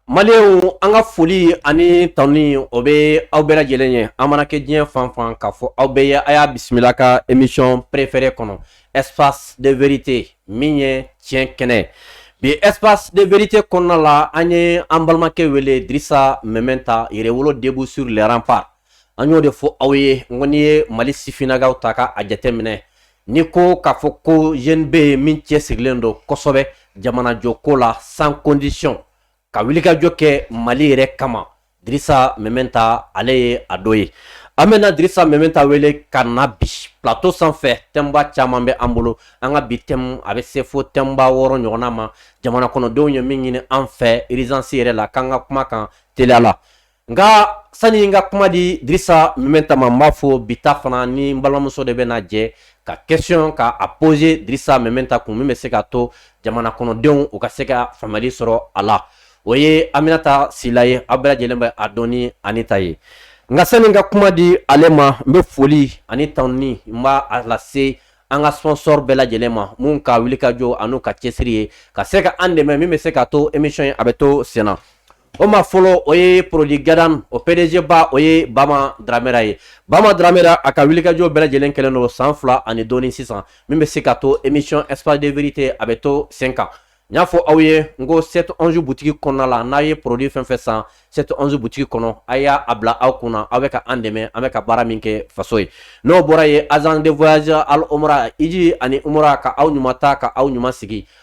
Maliyɛnw an ka foli ani tanuni o bɛ aw bɛɛ lajɛlen ye an mana kɛ diɲɛ fan fan k'a fɔ aw bɛɛ ye a y'a bisimila ka émission préférée kɔnɔ espace de vérité min ye tiɲɛ kɛnɛ bi espace de vérité kɔnɔna la an ye an balimakɛ wele dirisa mɛmɛnta yɛrɛwolo debout sur les remparts an y'o de fɔ aw ye n ko n'i ye mali sifinnakaw ta k'a jateminɛ Ni ko k'a fɔ ko jeune bɛ yen min cɛsirilen don kosɛbɛ jamanajɔ ko la sans condition ka wulikajɔ kɛ mali yɛrɛ kama dirisa mɛmɛnta ale ye a dɔ ye an bɛna dirisa mɛmɛnta wele ka na bi plateau sanfɛ thème ba caman bɛ an bolo an ka bi thème a bɛ se fo thème ba wɔɔrɔ ɲɔgɔnna ma jamana kɔnɔdenw ye min ɲini an fɛ urgence yɛrɛ la k'an ka kuma kan teliya la nka sani n ka kuma di dirisa mɛmɛnta ma n b'a fɔ bi ta fana ni n balimamuso de bɛna jɛ ka question ka a poser dirisa mɛmɛnta kun min bɛ se ka to jamana kɔnɔdenw u ka se ka faamuyali sɔrɔ a la o ye aminata sila ye aw bɛɛ lajɛlen bɛ a dɔn ni anita ye nka sani n ka kuma di ale ma n bɛ foli ani tanuni n b'a lase an ka sponsor bɛɛ lajɛlen ma mun ka wuli ka jɔ an'u ka cɛsiri ye ka se ka an dɛmɛ min bɛ se ka to emission ye a bɛ to senna O ma fɔlɔ o ye produit gadan o PDG ba o ye bama dramera ye bama dramera a ka wulikajɔ bɛɛ lajɛlen kɛlen don san fila ani dɔɔnin sisan min bɛ se ka to émission espace de vérité a bɛ to sen kan n y'a fɔ aw ye n ko sept onze boutique kɔnɔna la n'a ye produit fɛn fɛn san sept onze boutique kɔnɔ a y'a a bila aw kunna aw bɛ ka an dɛmɛ an bɛ ka baara min kɛ faso ye n'o bɔra ye agence de voyage al umra iji ani umra ka aw ɲuman ta ka aw ɲuman sigi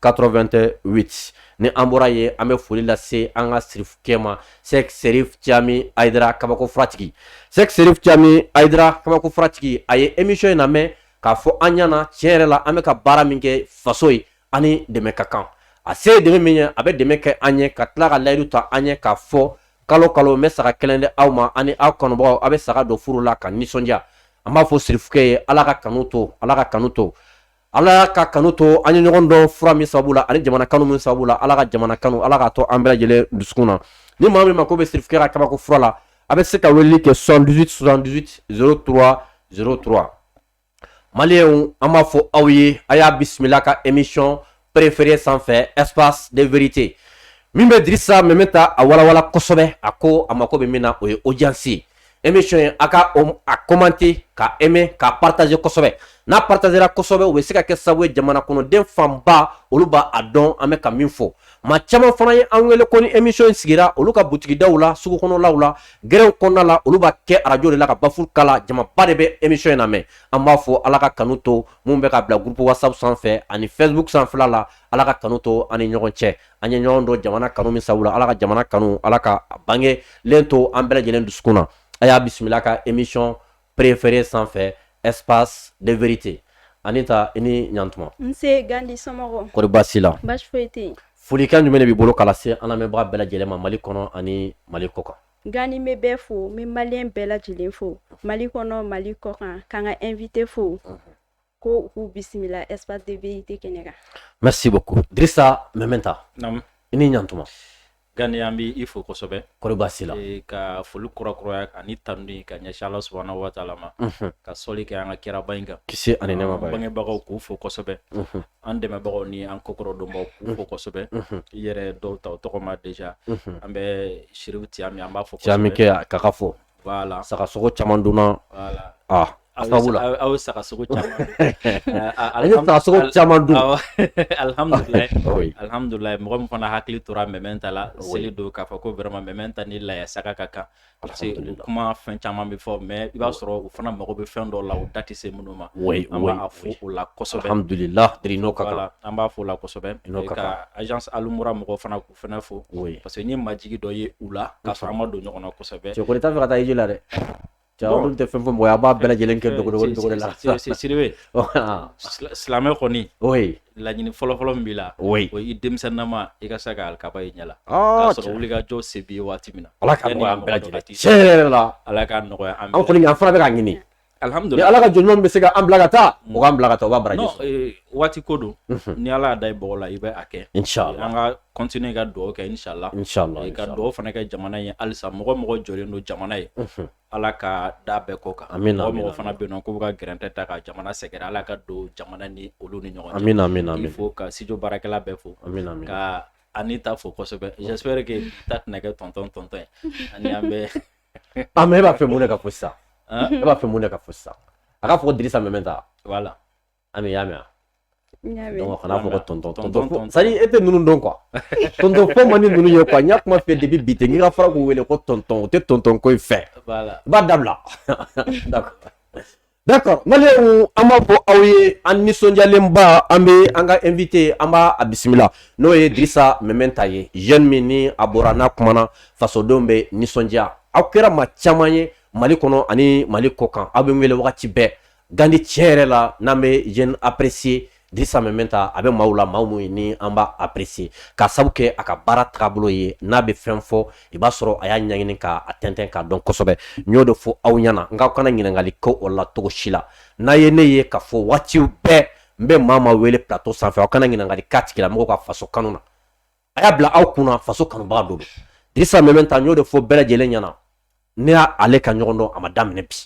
88 ni an bɔra ye an bɛ foli lase an ka sirifukɛ ma sɛki serif cami ayidara kabako furatigi sɛki serif cami ayidara kabako furatigi a ye émission in lamɛn k'a fɔ an ɲɛna tiɲɛ yɛrɛ la an bɛ ka baara min kɛ faso ye ani dɛmɛ ka kan a se dɛmɛ min ye a bɛ dɛmɛ kɛ an ye ka tila ka layidu ta an ye k'a fɔ kalo kalo n bɛ saga kelen di aw ma ani aw kanubagaw aw bɛ saga don furu la ka nisɔndiya an b'a fɔ sirifukɛ ye ala ka kanu to ala ka kanu to Ala ka kanu to an ye ɲɔgɔn dɔn fura min sababu la ani jamana kanu min sababu la ala ka jamana kanu ala ka to an bɛɛ lajɛlen dusukun na ni maa min mako bɛ sirifukɛ ka kabako fura la a bɛ se ka weleli kɛ 78 78 03 03 maliyɛnw an b'a fɔ aw ye a y'a bisimila ka émission préférée sanfɛ espace de vérité min bɛ dirisa mɛmɛnta a walawala kosɛbɛ a ko a mako bɛ min na o ye audience ye emission ye a ka a commenter k'a aimer k'a partager kosɛbɛ n'a partagera kosɛbɛ o bɛ se ka kɛ sababu ye jamana kɔnɔden fanba olu b'a dɔn an bɛ ka min fɔ maa caman fana ye an wele ko ni emission in sigira olu ka butigidaw la sugu kɔnɔlaw la gɛrɛnw kɔnɔna la olu b'a kɛ arajo de la ka baffle kala jamaba de bɛ emission in lamɛn an b'a fɔ ala ka kanu to minnu bɛ k'a bila groupe whatsapp sanfɛ ani facebook sanfɛla la ala ka kanu to an ni ɲɔgɔn cɛ an ye ɲɔgɔn dɔn jamana kanu min sabu la ala ka jamana kanu ala ka bangelen to an bɛɛ lajɛlen dusukun na a y'a bisimila ka emission préférée sanfɛ espace de vérité anita i ni ɲantuma kɔri baasi la folikan jumɛn de b'i bolo k'a lase an lamɛnbaga bɛɛ lajɛlen ma mali kɔnɔ ani mali kɔ kan gani n bɛ bɛɛ fo n bɛ maliyɛn bɛɛ lajɛlen fo mali kɔnɔ mali kɔ kan k'an ka invité fo ko k'u bisimila espace de vérité kɛnɛ kan merci beaucoup Drissa Mementa Naam. i ni ɲantuma Gani an bɛ i fo kosɛbɛ kɔri baasi la Eh, ka foli kurakura ani tanuni ka ɲɛsin ala subahana wa taala ma Unhun. ka sɔli kɛ an ka kiraba in kan kisi ani nɛɛma b'a ye bangebagaw k'u fo kosɛbɛ Unhun. an dɛmɛbagaw ni an kokɔrɔ donbaw k'u fo kosɛbɛ Unhun. i yɛrɛ dɔw ta o tɔgɔma déjà Unhun. an bɛ Sherifu Tiyami an b'a fo Tiyami kɛ k'a fo voilà saga sogo caman dunna voilà ah a sababu la aw ye saga sogo caman an ye saga sogo caman dun alhamdulilayi alhamdulilayi mɔgɔ min fana hakili tora mɛmɛnta la seli don k'a fɔ ko vraiment mɛmɛnta ni laya saga ka kan parce que kuma fɛn caman bɛ fɔ mais i b'a sɔrɔ u fana mago bɛ fɛn dɔw la u da tɛ se minnu ma an b'a fo o la kosɛbɛ alhamdulilayi n'o ka kan an b'a fo o la kosɛbɛ ka agence alumura mɔgɔw fana fana fo oui. parce que n ye majigi dɔ ye u la k'a sɔrɔ an ma don ɲɔgɔn na kosɛbɛ cɛkɔrɔba t'a fɛ ka taa hiji la dɛ cɛkɔrɔba tɛ fɛn fɔ mɔgɔ ye a b'a bɛɛ lajɛlen kɛ dogodogo la siribe silamɛ kɔni oui laɲini fɔlɔfɔlɔ min b'i la oui o ye i denmisɛnninama i ka se ka alikaba ye ɲɛ la k'a sɔrɔ wulikajɔ se b'i ye waati min na ala ka nɔgɔya an bɛɛ lajɛlen tiɲɛ yɛrɛ la ala ka nɔgɔya an bɛɛ an kɔni an fana bɛ k'a ɲini Alihamudulila ni Ala ka jɔn ɲuman min bɛ se ka an bila ka taa o k'an bila ka taa o b'a baraji sɔrɔ ee, waati ko don ni Ala y'a da i bɔgɔ la i bɛ a kɛ Inch'Allah. an ka continuer ka dugawu kɛ inshallah Inch'Allah, Ee, ka dugawu fana kɛ jamana ye halisa mɔgɔ o mɔgɔ jɔlen don jamana ye Ala ka da bɛɛ kɔ kan Amina, amina, mɔgɔ o mɔgɔ fana bɛ yen n'o k'u bɛ ka gɛrɛntɛ ta ka jamana sɛgɛrɛ Ala ka don jamana ni olu ni ɲɔgɔn cɛ Amina, amina, amina. k'i fo ka studio baarakɛla bɛɛ fo Amina, amina. ka Anita fo kosɛbɛ j'espère que ta tɛna kɛ tɔntɔn ye ani an bɛ a mais e b'a fɛ mun de ka fɔ sisan e b'a fɛ mun de ka fɔ sisan a k'a fɔ ko dirisa mɛmɛnta voilà ami y'a mɛn donc kana fɔ ko tɔntɔn c'est à dire e tɛ ninnu dɔn quoi tɔntɔn fɔ man di ninnu ye quoi n y'a kuma fɔ depuis bi tɛ n k'i ka fara k'u wele ko tɔntɔn u tɛ tɔntɔn ko in fɛ i b'a dabila d'accord D'accord Maliens an b'a fɔ aw ye an nisɔndiyalenba an bɛ an ka invité an b'a bisimila n'o ye Dirisa Mɛmɛnta ye jeune min ni a bɔra n'a kumana fasodenw bɛ nisɔndiya aw kɛra maa caman ye Mali kɔnɔ ani Mali kɔkan aw bɛ n wele wagati bɛɛ Gandi tiɲɛ yɛrɛ la n'an bɛ jeune apprécié Dirisa Mɛmɛnta a bɛ maaw la maa min ni an b'a apprécier k'a sabu kɛ a ka baara taabolo ye n'a bɛ fɛn fɔ i b'a sɔrɔ a y'a ɲɛɲini k'a tɛntɛn k'a dɔn kosɛbɛ n y'o de fɔ aw ɲɛna n k'aw kana ɲininkali kɛ o la cogo si la n'a ye ne ye k'a fɔ waatiw bɛɛ n bɛ maa maa wele plateau sanfɛ aw kana ɲininkali k'a tigilamɔgɔw ka faso kanu na a y'a bila aw kunna faso kanubaga don Dirisa Mɛmɛnta n y'o de fɔ bɛɛ lajɛlen ɲɛna ne n'ale ka ɲɔgɔn dɔn a ma daminɛ bi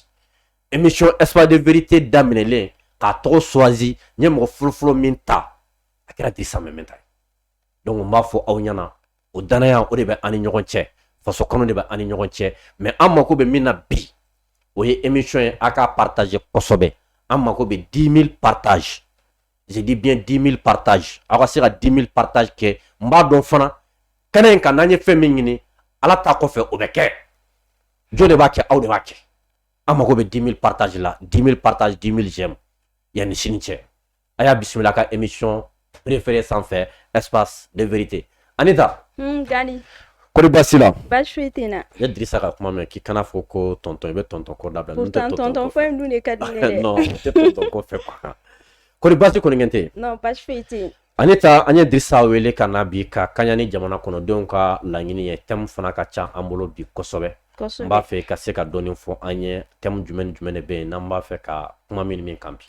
émission Espace de vérité daminɛlen k'a tɔgɔ choisi n ye mɔgɔ fɔlɔfɔlɔ min ta a kɛra Dirisa Mɛmɛnta ye donc n b'a fɔ aw ɲɛna o danaya o de bɛ an ni ɲɔgɔn cɛ faso kanu de bɛ an ni ɲɔgɔn cɛ mais an mako bɛ min na bi o ye émission ye a k'a partager kosɛbɛ an mako bɛ 10 000 partage zdibiɲɛ dimi pata aw ka se ka dimi pata kɛ n b'a dɔn fana kɛnɛ in ka n'an ye fɛn min ɲini ala ta kɔfɛ o bɛ kɛ jo de b'a kɛ aw de b'a kɛ an mago bɛ dimi pata la dimi pata dimi jɛ yanani sini cɛ a y'a bisimila ka emi nisɔn perefeere sanfɛ ɛsfa ne vte Anita hmm, Gandi kori baasi la baasi foyi tɛ n na i ye Dirisa ka kuma mɛn k'i kana fɔ ko tonton i bɛ tonton ko dabila pourtant tonton fɔ in dun de ka di ne dɛ non o tɛ tonton ko fɛ quoi kori baasi kɔni tɛ yen non baasi foyi tɛ yen Anita an ye Dirisa wele ka na bi ka kaɲa ni jamana kɔnɔdenw ka laɲini ye thème fana ka ca an bolo bi kosɛbɛ n b'a fɛ i ka se ka dɔɔni fɔ an ye thème jumɛn ni jumɛn de bɛ yen n'an b'a fɛ ka kuma min min kan bi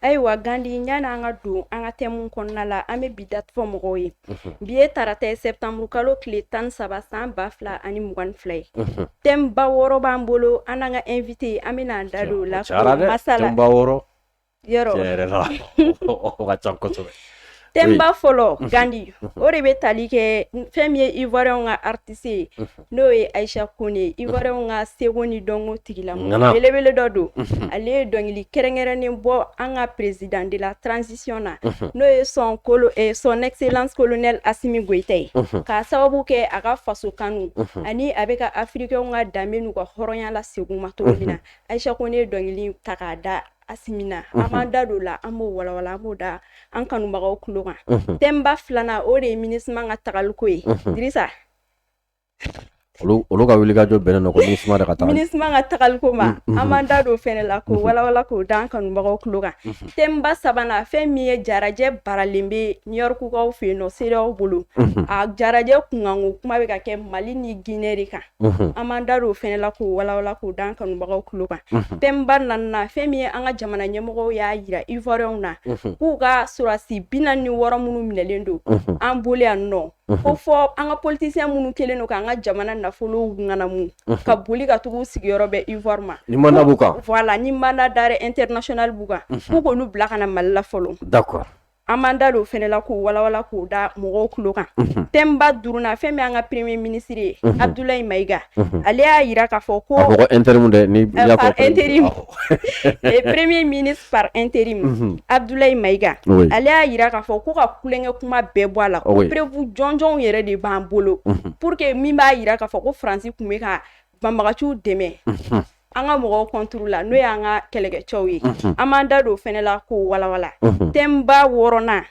ayiwa Gandi yanni an ka don an ka thème kɔnɔna la an bɛ bi date fɔ mɔgɔw ye bi ye tarata ye septembre kalo tile tan saba san ba fila ani mugan fila ye thème ba wɔɔrɔ b'an bolo an n'an ka invité an bɛna an da don o la masala yɔrɔ thème ba fɔlɔ Gandi o de bɛ tali kɛ fɛn min ye ivoirienw ka artiste ye n'o ye Aïcha Koné ivoirienw ka seko ni dɔnko tigilamɔgɔ belebele dɔ don ale ye dɔnkili kɛrɛnkɛrɛnnen bɔ an ka président de la transition na n'o ye son excellence colonel Assimi Goïta ye k'a sababu kɛ a ka faso kanu ani a bɛ ka africainw ka danbe n'u ka hɔrɔnya lasegin u ma cogo min na Aïcha Koné ye dɔnkili ta k'a da Assimi na an mhm. b'an da don o la an b'o walawala an b'o da an kanubagaw tulo kan mhm. thème ba filanan o de ye MINUSMA ka tagaliko ye mhm. Dirisa olu ka wuli ka jɔ bɛnnen don ko MINUSMA de ka taga MINUSMA ka tagaliko ma an b'an da don fɛnɛ la k'o walawala k'o da an kanubagaw tulo kan thème ba sabanan fɛn min ye jarajɛ baralen bɛ New Yorkkaw fɛ yen nɔ CEDEAO bolo a jarajɛ kunkanko kuma bɛ ka kɛ Mali ni Ginɛ de kan an b'an da don o fɛnɛ la k'o walawala k'o d'an kanubagaw tulo kan thème ba naaninan fɛn min ye an ka jamana ɲɛmɔgɔ y'a yira ivoiriyɛnw na k'u ka sɔrɔdasi bi naani ni wɔɔrɔ minnu minɛlen don an bolo yan nɔ ko fo an ka politisiyɛn minnu kɛlen don k'an ka jamana nafolow ŋanamu ka boli ka tugu sigiyɔrɔ bɛ ivoire ma voilà ni mandat d'arrêt international b'u kan k'u k'olu bila ka na mali la fɔlɔ an b'an da don o fɛnɛ la k'o walawala k'o da mɔgɔw tulo kan thème ba duurunan fɛn min an ka premier ministre ye abudulayi mayiga ale y'a yira k'a fɔ ko premier ministre par intérim abudulayi mayiga ale y'a yira k'a fɔ ko ka tulonkɛ kuma bɛɛ bɔ a la preuve jɔnjɔnw yɛrɛ de b'an bolo pour que min b'a yira k'a fɔ ko faransi tun bɛ ka banbaganciw dɛmɛ an ka mɔgɔw contre la n'o y'an ka kɛlɛkɛcɛw ye an b'an da don o fɛnɛ la k'o walawala thème ba wɔɔrɔnan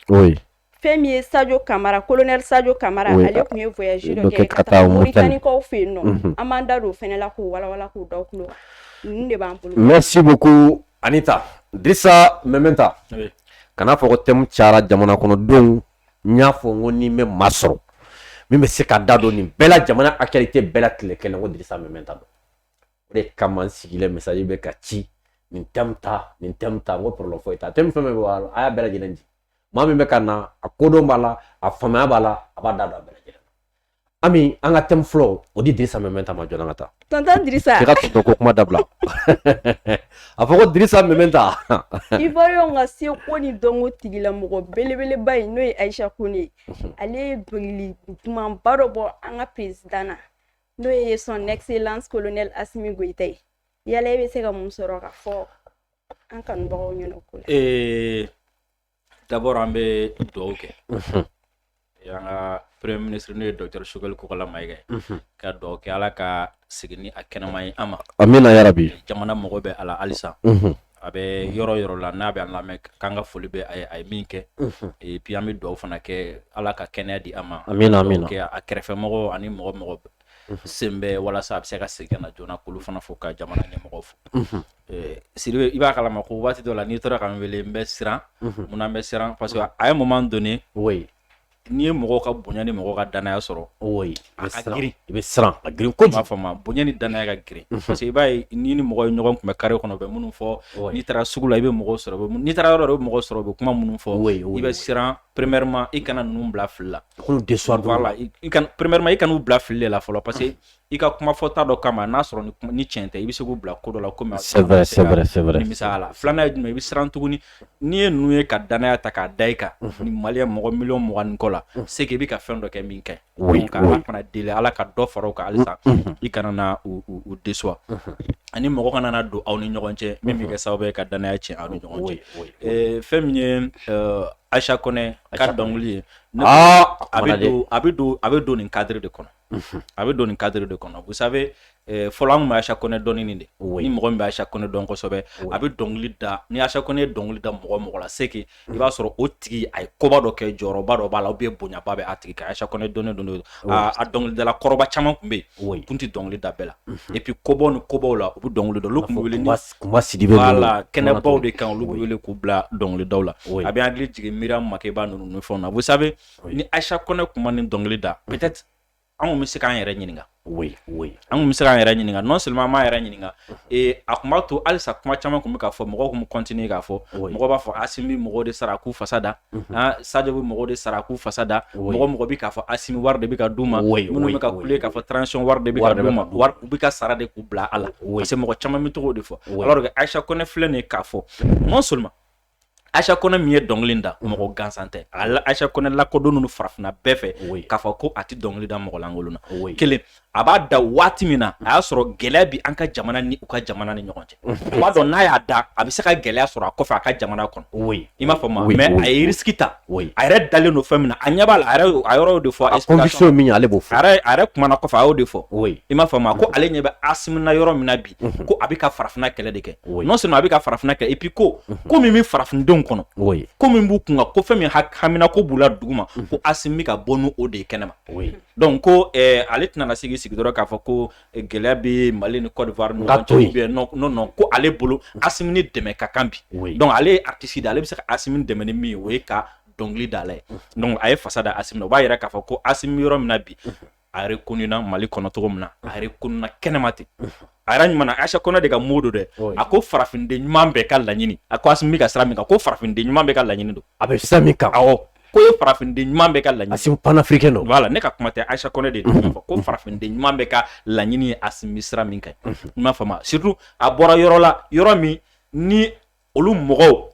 fɛn min ye sajo kamara colonel sajo kamara ale tun ye voyage dɔ kɛ ka taa moritanikaw fɛ yen nɔ an b'an da don o fɛnɛ la k'o walawala k'o da tulo kan ninnu de b'an bolo merci beaucoup anita dirisa mɛmɛnta kana fɔ ko thème cayara jamana kɔnɔdenw n y'a fɔ n ko n'i bɛ maa sɔrɔ min bɛ se ka da don nin bɛɛ la jamana actualité bɛɛ la tile kelen ko dirisa mɛmɛnta don o de kama n sigilen message bɛ ka ci nin thème ta nin thème ta n ko problème foyi t'a thème fɛn fɛn bɛ bɔ a y'a bɛɛ lajɛlen di maa min bɛ ka na a kodɔn b'a la a faamaya b'a la a b'a da don a bɛɛ lajɛlen Ami an ka thème fɔlɔ o di Dirisa Mɛmɛnta ma joona ka taa, tonton Dirisa, k'i ka tonton ko kuma dabila, a fɔ ko Dirisa Mɛmɛnta, Ivoiriyɛnw ka seko ni dɔnko tigilamɔgɔ belebeleba in n'o ye Ayisa Kone ye, ale ye dɔnkili dumanba dɔ bɔ an ka président na n'o ye son excellence colonel Asimi Goyita ye, yala e bɛ se ka mun sɔrɔ ka fɔ an kanubagaw ɲɛna o ko la? ee d'abord an bɛ dugawu kɛ an ka premier ministre n'o ye docteur sogɛli kokala mayiga ka dugawu kɛ ala ka segin ni a kɛnɛma ye an ma amiina yarabi jamana mago b'a la halisa a bɛ yɔrɔ yɔrɔ la n'a bɛ an lamɛn k'an ka foli bɛ a ye min kɛ et puis an bɛ dugawu fana kɛ ala ka kɛnɛya di a ma amiina a kɛrɛfɛmɔgɔ ani mɔgɔ mɔgɔ sen bɛ walasa a bɛ se ka segin na joona k'olu fana fo ka jamana ɲɛmɔgɔ fo sidibe i b'a kalama ko waati dɔ la n'i tora ka n wele n bɛ siran munna n bɛ siran parce que a ye moment donné n'i ye mɔgɔ ka bonya ni mɔgɔ ka dannaya sɔrɔ a ka girin i bɛ siran a girin ko b'a fɔ ma bonya ni dannaya ka girin parce que i b'a ye n'i ni mɔgɔ ye ɲɔgɔn kunbɛn carré kɔnɔ u bɛ minnu fɔ n'i taara sugu la i bɛ mɔgɔ sɔrɔ n'i taara yɔrɔ dɔ i bɛ mɔgɔ sɔrɔ u bɛ kuma minnu fɔ i bɛ siran premièrement i kana ninnu bila fili la K'olu déçoir dɔrɔn voilà i i kana premièrement i kan'u bila fili de la fɔlɔ parce que i ka kuma fɔta dɔ kama n'a sɔrɔ ni tiɲɛ tɛ i bɛ se k'u bila ko dɔ la komi c'est vrai c'est vrai c'est vrai nimisaya la filanan ye jumɛn i bɛ siran tuguni n'i ye ninnu ye ka danaya ta k'a da i kan ni maliyɛn mɔgɔ miliyɔn mugan ni kɔ la c'est que i bɛ ka fɛn dɔ kɛ min ka ɲi oui donc oui ala fana deli ala ka dɔ fara o kan halisa i kana na u u u déçoir ani mɔgɔ kana na don aw ni ɲɔgɔn cɛ min bɛ kɛ sababu ye ka danaya tiɲɛ aw ni ɲɔgɔn cɛ oui oui oui ɛɛ fɛn min ye ɛɛ Aicha Kone ka Aicha Kone dɔnkili ye a bɛ don nin cadre de kɔnɔ a bɛ don nin cadre de kɔnɔ vous savez fɔlɔ an bɛ Aicha Kone dɔn de o ni mɔgɔ min bɛ Aicha Kone dɔn kosɛbɛ a bɛ dɔnkili da ni Aicha Kone ye dɔnkili da mɔgɔ mɔgɔ la c'est que i b'a sɔrɔ o tigi a ye koba dɔ kɛ jɔyɔrɔba dɔ b'a la ou bien bonyaba bɛ a tigi kan Aicha Kone dɔnnen don a dɔnkilidala kɔrɔba caman tun bɛ yen u kun tɛ dɔnkili da bɛɛ la et puis kobaw ni kobaw la u bɛ dɔnkili da o tun kuma sidi la kɛnɛbaw de kan olu bɛ wele k'u bila dɔnkilidaw la a bɛ hakili jigin Miriam Makeba ninnu fɛn na vous savez ni Aicha Kone kun ma nin dɔnkili da anw bɛ se k'an yɛrɛ ɲininka an bɛ se k'an yɛrɛ ɲininka non seulement an m'an yɛrɛ ɲininka a tun b'a to halisa kuma caman tun bɛ k'a fɔ mɔgɔw tun bɛ continuer k'a fɔ mɔgɔw b'a fɔ Assimi bɛ mɔgɔw de sara k'u fasa da Aa Sadio bɛ mɔgɔw de sara k'u fasa da mɔgɔ mɔgɔ bɛ k'a fɔ Assimi wari de bɛ ka d'u ma minnu bɛ ka kule k'a fɔ transition wari de bɛ ka d'u ma wari u bɛ ka sara de k'u bila a la parce que mɔgɔ caman bɛ to k'o de fɔ alors que Aicha Kone filɛ nin ye k'a fɔ non seulement Aicha Kone min ye dɔnkili in da mɔgɔ gansan tɛ Aicha Kone lakodɔnnen don farafinna bɛɛ fɛ k'a fɔ ko a tɛ dɔnkili da mɔgɔ lankolon na kelen a b'a da waati min na a y'a sɔrɔ gɛlɛya bi an ka jamana ni u ka jamana ni ɲɔgɔn cɛ o b'a dɔn n'a y'a da a bɛ se ka gɛlɛya sɔrɔ a kɔfɛ a ka jamana kɔnɔ i m'a faamu mais a ye risque ta a yɛrɛ dalen don fɛn min na a ɲɛ b'a la a yɔrɔ de fɔ conviction min ale b'o fɔ a yɛrɛ kumana kɔfɛ a y'o de fɔ i m'a faamu ko ale ɲɛ bɛ Assimi na yɔrɔ min na bi ko a bɛ ka farafinna kɛlɛ de kɛ non seulement a bɛ ka farafinna kɛlɛ et puis ko ko min bɛ farafindenw kɔnɔ ko min b'u kunna ko fɛn min hamina ko b'u la duguma ko Assimi bɛ ka bɔ n'o de ye kɛnɛma donc ko eh, ale tɛna na sigi sigi dɔrɔn k'a fɔ ko eh, gɛlɛya bɛ Mali ni Côte d'Ivoire non ko ale bolo Assimi ni dɛmɛ ka kan bi donc ale ye artiste de ale bɛ se ka Assimi dɛmɛ ni min ye o ye ka dɔnkili da a la ye donc a ye fasa da Assimi na o b'a yira k'a fɔ ko Assimi yɔrɔ min na bi a reconnu na Mali kɔnɔ cogo min na a reconnu na kɛnɛma ten a yɛrɛ ɲuman Aicha Kone de ka mot don dɛ a ko farafinden ɲuman bɛɛ ka laɲini a ko Assimi ka sira min kan ko farafinden ɲuman bɛɛ ka laɲini don a bɛ sira min kan awɔ ko ye farafinden ɲuman bɛɛ ka laɲini Assimi panafricain don voilà ne ka kuma tɛ Aicha Kone de tun fɔ ko farafinden ɲuman bɛɛ ka laɲini ye Assimi sira min kan i m'a faamu surtout a bɔra yɔrɔ la yɔrɔ min ni olu mɔgɔw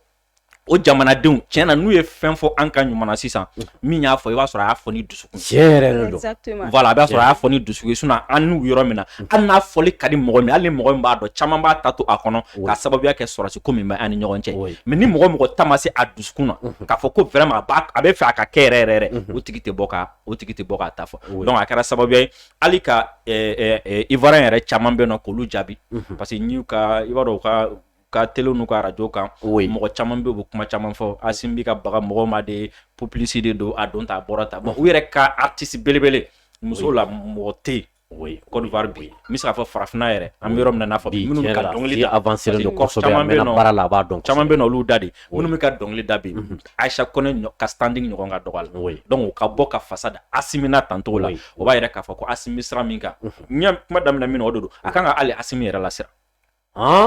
o jamanadenw tiɲɛ na n'u ye fɛn fɔ an ka ɲuman na sisan min y'a fɔ i b'a sɔrɔ a y'a fɔ ni dusu a b'a sɔrɔ a y'a fɔ ni dusukun sinon an n'u yɔrɔ min na hali n'a fɔli ka di mɔgɔ min hali ni mɔgɔ min b'a dɔn caman b'a ta to a kɔnɔ ka sababuya kɛ sɔrɔsi ko min bɛ an ni ɲɔgɔn cɛ mais ni mɔgɔ mɔgɔ ta ma se a dusukun na k'a fɔ ko vraiment a bɛ fɛ a ka kɛ yɛrɛ yɛrɛ o tigi tɛ bɔ ka o tigi tɛ bɔ k'a ta fɔ donc a kɛra sababuya ye hali ka Ivoirien yɛrɛ caman bɛ yen nɔ k'olu jaabi parce que y'u ka i b'a dɔn ka ka télé n'u ka arajo kan o ye mɔgɔ caman bɛ bɛ kuma caman fɔ Asimi bɛ ka baga mɔgɔ ma de publicité don a don ta a bɔra ta u yɛrɛ ka artiste belebele muso la mɔgɔ tɛ Côte d'Ivoire bi n bɛ se k'a fɔ farafinna yɛrɛ an bɛ yɔrɔ min na n'a fɔ minnu ka dɔnkili da avancé don kosɛbɛ a mɛnna baara la a b'a dɔn caman bɛ yen nɔ olu da de minnu bɛ ka dɔnkili da bi Ayisa Kɔnɛ ka standing ɲɔgɔn ka dɔgɔ a la donc o ka bɔ ka fasa da Asimi na tancogo la o b'a yira k'a fɔ ko Asimi sira min kan n ye kuma daminɛ min na o de don a kan ka hali Asimi yɛrɛ lasiran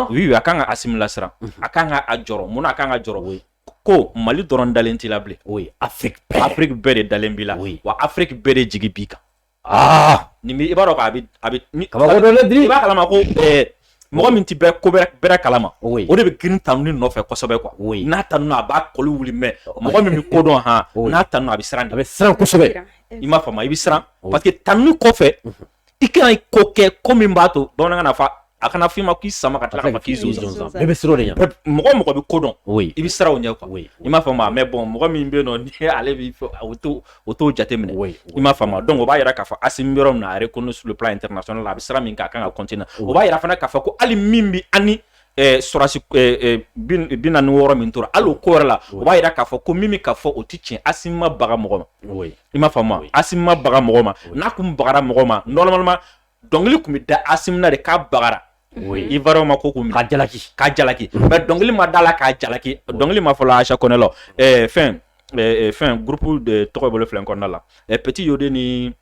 oui a kan ka Asimi lasiran a kan ka a jɔrɔ mun na a kan ka jɔrɔ ko mali dɔrɔn dalen t'i la bilen o Afrique Afrique bɛɛ de dalen b'i la wa Afrique bɛɛ de jigi b'i kan aa nin i b'a dɔn a bɛ i b'a kalama ko mɔgɔ min tɛ bɛ ko bɛrɛ kalama o de bɛ girin tanuni nɔfɛ kosɛbɛ quoi n'a tanuna a b'a kɔli wuli mais mɔgɔ min bɛ ko dɔn hɔn n'a tanuna a bɛ siran a bɛ siran kosɛbɛ i m'a faamu i bɛ siran parce que tanuni kɔfɛ i kana ko kɛ ko min b'a to bamanankan n'a fɔ a kana f'i ma k'i sama ka tila ka fɔ k'i zo zonzan bɛɛ bɛ siran o de ɲɛ mɔgɔ mɔgɔ bɛ ko dɔn i bɛ siran o ɲɛ quoi i m'a faamu mais bon mɔgɔ min bɛ yen nɔ ni ale b'i fɔ o t'o o t'o jateminɛ i m'a faamu donc o b'a yira k'a fɔ Asimi bɛ yɔrɔ min na a reconnu sur le plan international a bɛ sira min kan a kan ka continuer o b'a yira fana k'a fɔ ko hali min bɛ ani sɔrɔsi bi naani ni wɔɔrɔ min tora hali o ko yɛrɛ la o b'a yira k'a fɔ ko min bɛ ka fɔ o tɛ tiɲɛ Asimi ma baga mɔgɔ ma i m'a faamu Asimi ma baga mɔgɔ ma n'a kun bagara mɔgɔ ma normalement dɔnkili kun bɛ da Asimi na de k'a bagara Ivoirien ma ko kun k'a jalaki k'a jalaki mais dɔnkili ma da a la k'a jalaki dɔnkili ma fɔlɔ Ayisa Kɔnɛ la fɛn fɛn groupe de tɔgɔ bolo filɛ kɔnɔna la Petit Yodé ni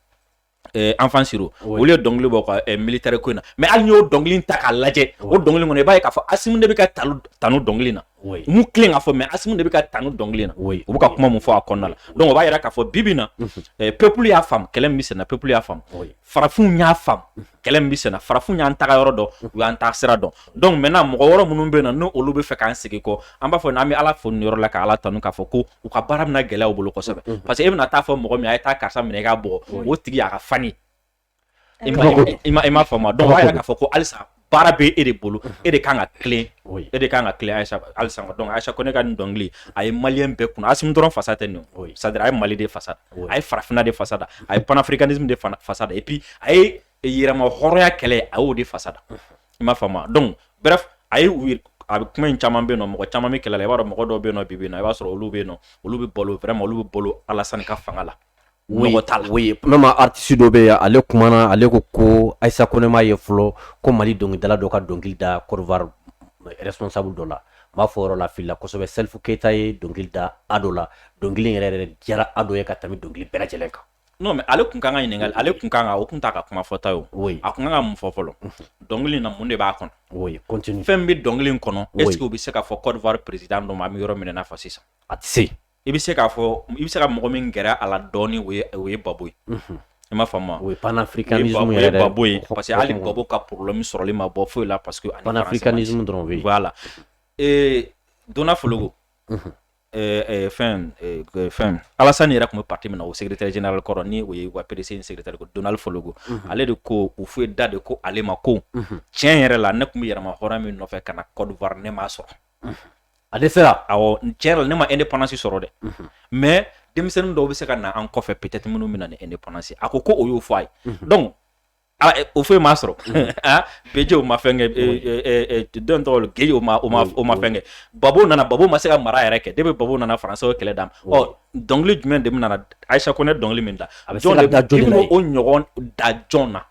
Eh, Enfant Siro olu ye dɔnkili bɔ ka eh, militaire ko in na mais hali i y'o dɔnkili ta k'a lajɛ o dɔnkili kɔnɔ i b'a ye k'a fɔ Asimi de bɛ ka tanu dɔnkili na m'u tilen k'a fɔ mais Asimi de bɛ ka tanu dɔnkili na u bɛ ka kuma min fɔ a kɔnɔna la donc o b'a yira k'a fɔ bi bi in na mhm. eh, peuple y'a faamu kɛlɛ min bɛ senna peuple y'a faamu farafinw y'a faamu kɛlɛ min bɛ senna farafinw y'an taga yɔrɔ dɔn u y'an taa sira dɔn donc maintenant mɔgɔ wɔɔrɔ minnu bɛ yen nɔ n'olu bɛ fɛ k'an segin kɔ an b'a fɔ n'an bɛ ala fo nin yɔrɔ la ka ala tanu k'a fɔ ko u ka baara bɛna gɛlɛya u bolo kosɛbɛ mm-hmm. parce que e bɛna taa fɔ mɔgɔ min a ye taa karisa minɛ i k'a bugɔ mm-hmm. o tigi a ka fani i ma i m'a faamu donc o b'a yira k'a fɔ ko halisa baara bɛ e de bolo mm-hmm. e de kan ka tilen e de kan ka tilen halisa halisa donc Ayisa Kɔnɛ ka nin dɔnkili a ye maliyɛn bɛɛ kunna Asimi dɔrɔn fasa tɛ nin c'est-à-dire a ye mali de fasa da a ye farafinna de fasa da a ye panafricanisme de fasa da et puis a ye yɛrɛma hɔrɔnya kɛlɛ a y'o de fasa da i m'a faamu donc bref a ye a bɛ kuma in caman bɛ nɔ mɔgɔ caman bɛ kɛlɛ i b'a dɔn mɔgɔ dɔw bɛ nɔ bi na i b'a sɔrɔ olu bɛ nɔ olu bɛ balo vraiment olu bɛ balo alasan ka fanga la même artiste dɔ bɛ ale kumana ale ko ko ayisa kɔnɛ ma ye fɔlɔ ko mali dɔnkilidala dɔ ka dɔnkili da Côte d'Ivoire responsable dɔ la n b'a fɔ yɔrɔ la filila kosɛbɛ salifu keyita ye dɔnkili da ado la dɔnkili yɛrɛ diyara ado ye ka tɛmɛ dɔnkili bɛɛ lajɛlen kan mais ale tun ka kan ka ɲininka ale tun ka kan o tun t'a ka kuma fɔta ye a tun kan ka mun fɔ fɔlɔ dɔnkili na mun de b'a kɔnɔ fɛn bɛ dɔnkili kɔnɔ est ce que o bɛ se ka fɔ Côte d'Ivoire président dɔ ma an bɛ yɔrɔ min na fɔ sisan a tɛ se i bɛ se k'a fɔ i bɛ se ka mɔgɔ min gɛrɛ a la dɔɔni o ye babo ye i m'a faamu o ye panafricanisme yɛrɛ de babo ye parce que hali babo ka problème sɔrɔli ma bɔ foyi la parce que panafricanisme dɔrɔn b'a la dona fologo ɛɛ fɛn fɛn alasan yɛrɛ tun bɛ parti min na o secrétaire général kɔrɔ ni o ye wa PDCI secrétaire ko dona fologo ale de ko Houphouët da de ko ale ma ko tiɲɛ yɛrɛ la ne tun bɛ yɛrɛma hɔrɔnya min nɔfɛ ka na Côte d'Ivoire ne m'a sɔrɔ ale sera tiɲɛ la ne ma indépendance sɔrɔ dɛ mais denmisɛnnin dɔw bɛ se ka na an kɔfɛ peut-être minnu bɛ na ni indépendance a ko o y'o fɔ a ye donc Ah, eh, Houphouët m'a sɔrɔ mm-hmm. ah, Bédié o ma fɛn kɛ eh, eh, dɔ in tɔgɔ Guéï o ma fɛn kɛ babo nana babo ma se ka mara yɛrɛ kɛ de bɛ babo nana faransiw kɛlɛ dama dɔnkili jumɛn de nana ayisa kɔnɛ dɔnkili min da jɔn de o ɲɔgɔn da jɔn na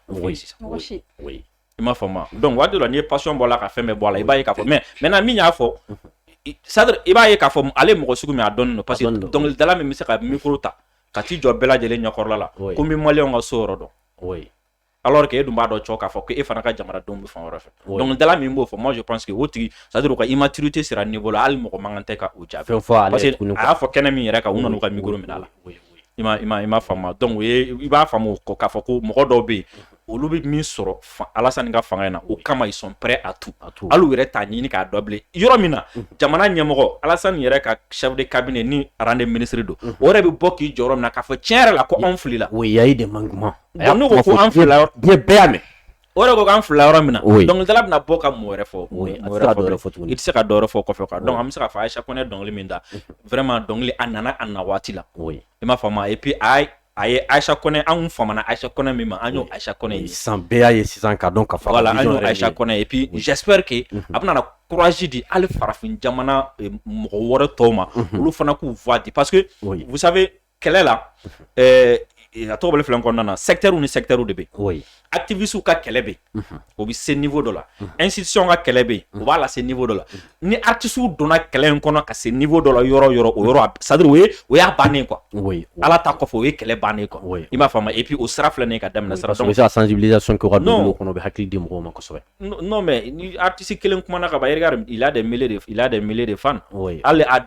i m'a faamu donc waati la n'i ye passion bɔ la ka fɛn bɛɛ bɔ la i b'a ye k'a fɔ mais maintenant min y'a fɔ mm-hmm. c'est à dire i b'a ye k'a fɔ ale mɔgɔ sugu min a dɔnnen don parce que dɔnkilidala min bɛ se ka micro ta ka t'i jɔ bɛɛ lajɛlen ɲɛkɔrɔla la ko n bɛ maliyɛnw ka so yɔrɔ dɔn oui alors que e dun b'a dɔn cɔ k'a fɔ ko e fana ka jamanadenw bɛ fan wɛrɛ fɛ dɔnkilidala min b'o fɔ moi je pense que o tigi c'est à dire u ka immaturité sera niveau la hali mɔgɔ man kan tɛ ka o jaabi fɛn fɔ ale parce que a y'a fɔ kɛnɛ min yɛrɛ kan u nan'u ka micro minɛ a la i ma i ma i ma faamu donc o ye i b'a faamu k'a fɔ ko mɔgɔ dɔw bɛ yen olu bɛ min sɔrɔ Alasani ka fanga in na o kama ils sont prêts à tout ah, hali u yɛrɛ t'a ɲini k'a dɔn bilen yɔrɔ min na jamana ɲɛmɔgɔ alasan yɛrɛ ka chef de cabinet ni rang de ministre don o yɛrɛ bɛ bɔ k'i jɔ yɔrɔ min na k'a fɔ cɛn yɛrɛ la ko anw filila il y a eu des manquements n'u ko ko an filila diɲɛ bɛɛ y'a mɛn o yɛrɛ ko an filila yɔrɔ min na dɔnkilidala bɛna bɔ ka mun wɛrɛ fɔ i tɛ se ka dɔ wɛrɛ fɔ kɔfɛ quoi donc an bɛ se k'a fɔ ayisa kɔnɛ dɔnkili min da vraiment dɔnkili a nana a na waati la i m'a faamu et puis a a ye ayisa kɔnɛ an famana ayisa kɔnɛ min ma an y'o ayisa kɔnɛ ye sisan bɛɛ y'a ye sisan k'a dɔn k'a fɔ voilà an y'o ayisa kɔnɛ ye et puis j'espère que a bɛna na courage di hali farafin jamana mɔgɔ wɛrɛ tɔw ma olu fana k'u voix di parce que vous savez kɛlɛ la a tɔgɔ bɛ filan kɔnɔna na secteur ni secteur de bɛ kɔ ye activistes ka kɛlɛ bɛ yen o bɛ se niveau dɔ la institution ka kɛlɛ bɛ yen o b'a lase niveau dɔ la ni artistes donna kɛlɛ in kɔnɔ ka se niveau dɔ la yɔrɔ o yɔrɔ o yɔrɔ a c'est à dire o ye o y'a bannen quoi oui Ala ta kɔfɛ o ye kɛlɛ bannen quoi oui i m'a faamu et puis o sira filɛ nin ye ka daminɛ sira donc o bɛ se ka sensibilisation kɛ u ka dugu kɔnɔ u bɛ hakili di mɔgɔw ma kosɛbɛ non mais ni artiste kelen kumana ka ban regarde il a des milliers de il a des milliers de fans oui hali a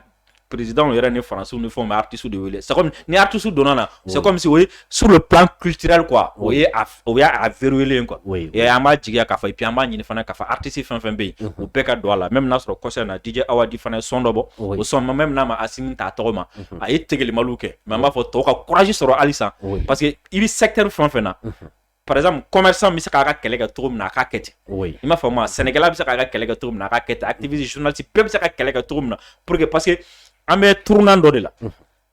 président yɛrɛ ni Faransiw ni fɛnw bɛ artiste de wele c'est comme ni artiste donna na c'est comme si o ye sur le plan culturel quoi o ye a o y'a a verrouiller quoi et an b'a jigiya k'a fɔ et puis an b'a ɲini fana k'a fɔ artiste fɛn fɛn bɛ yen u bɛɛ ka don a la même n'a sɔrɔ kɔsa in na DJ Awadi fana ye son dɔ bɔ o son ma même n'a ma Asimi t'a tɔgɔ ma a ye tegelimaliw kɛ mais an b'a fɔ tɔw ka courage sɔrɔ halisa parce que i bɛ secteur fɛn fɛn na paz kɔmɛsa bɛ se k'a ka kɛlɛ kɛ cogo min na k'a kɛ ten o i n'a fɔ ma sɛnɛkɛla bɛ se k'a ka kɛlɛ kɛ cogo min na k'a kɛ a tɛbisi sunsi bɛɛ bɛ se ka kɛlɛ kɛ cogo min na pur que pa que an bɛ turunan dɔ de la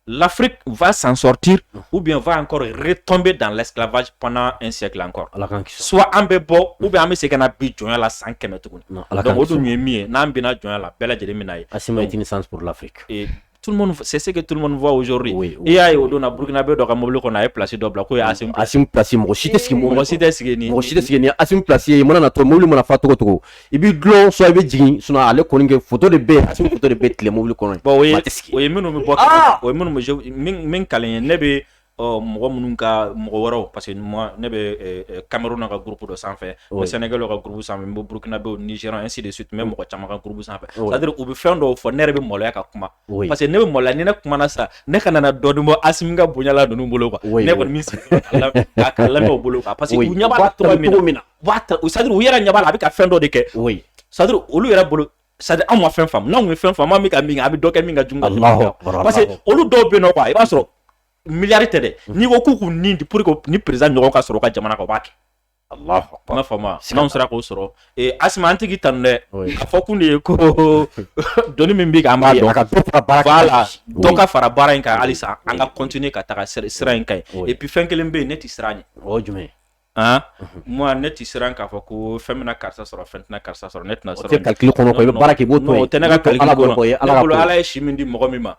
lafiri fa san sɔti u bɛ fɔ an kɔrɔ re tɔn bɛ dan lafifa pan n sɛ kɔrɔ ala su an bɛ bɔ u bɛ an bɛ se ka bi jɔn la san kɛmɛ tuguni ala o dun ye min ye n'an bɛna jɔn la bɛɛ lajɛlen min ye a san lafifiri tout le monde c'est ce que tout le monde voit aujourd'hui oui, oui, i y'a ye o don na burkinabé dɔ ka mobili kɔnɔ a ye place dɔ bila k'o ye Asimi Asimi place mɔgɔ si tɛ sigi mɔgɔ si tɛ sigi ni mɔgɔ si tɛ sigi nin Asimi place ye mana na to mobili mana fa cogo o cogo i b'i dulon soit i bɛ jigin sinon ale kɔni kɛ photo de bɛ Asimi photo de bɛ tile mobili kɔnɔ bon o ye o ye minnu bɛ bɔ o ye minnu bɛ min min kalan ye ne bɛ ɔ mɔgɔ minnu ka mɔgɔ wɛrɛw parce que ne bɛ Cameroun ka groupe dɔ sanfɛ n bɛ Sénégal ka groupe sanfɛ n bɛ burkinabé ni ainsi de suite n bɛ mɔgɔ caman ka groupe sanfɛ c'est à dire u bɛ fɛn dɔw fɔ ne yɛrɛ bɛ maloya ka kuma parce que ne bɛ maloya ni ne kumana sa ne kana na dɔɔnin bɔ Asimi ka bonya la ninnu bolo quoi ne kɔni bɛ n sigi k'a lamɛn u bolo quoi parce que u ɲɛ b'a la cogo min na c'est à dire u yɛrɛ ɲɛ b'a la a bɛ ka fɛn dɔ de kɛ c'est à dire olu yɛrɛ bolo c'est à dire anw ma fɛn faamu n'anw ye fɛn faamu an bɛ ka min kɛ an bɛ dɔ kɛ min ka jugu ka tɛmɛ parce que olu dɔw bɛ yen nɔ i b'a sɔrɔ miliyari tɛ dɛ n'i ko k'u k'u ni di pour que nin président ɲɔgɔn ka sɔrɔ ka jamana kan u b'a kɛ i m'a faamu n'anw sera k'o sɔrɔ ee Asimi an tɛ k'i tanu dɛ a fɔ kun de ye ko dɔnni min bɛ k'an b'a dɔn ka dɔ fara baara kan voilà dɔ ka fara baara in kan halisa an ka continuer ka taga sira in kan ye et puis fɛn kelen bɛ yen ne tɛ siran ɲɛ o ye jumɛn ye moi ne tɛ siran k'a fɔ ko fɛn bɛna karisa sɔrɔ fɛn tɛna karisa sɔrɔ ne tɛna sɔrɔ tɛ calcul kɔnɔ quoi i bɛ baara kɛ i b'o to yen, o tɛ ne ka calcul kɔnɔ, ne bolo Ala ye si min di mɔgɔ min ma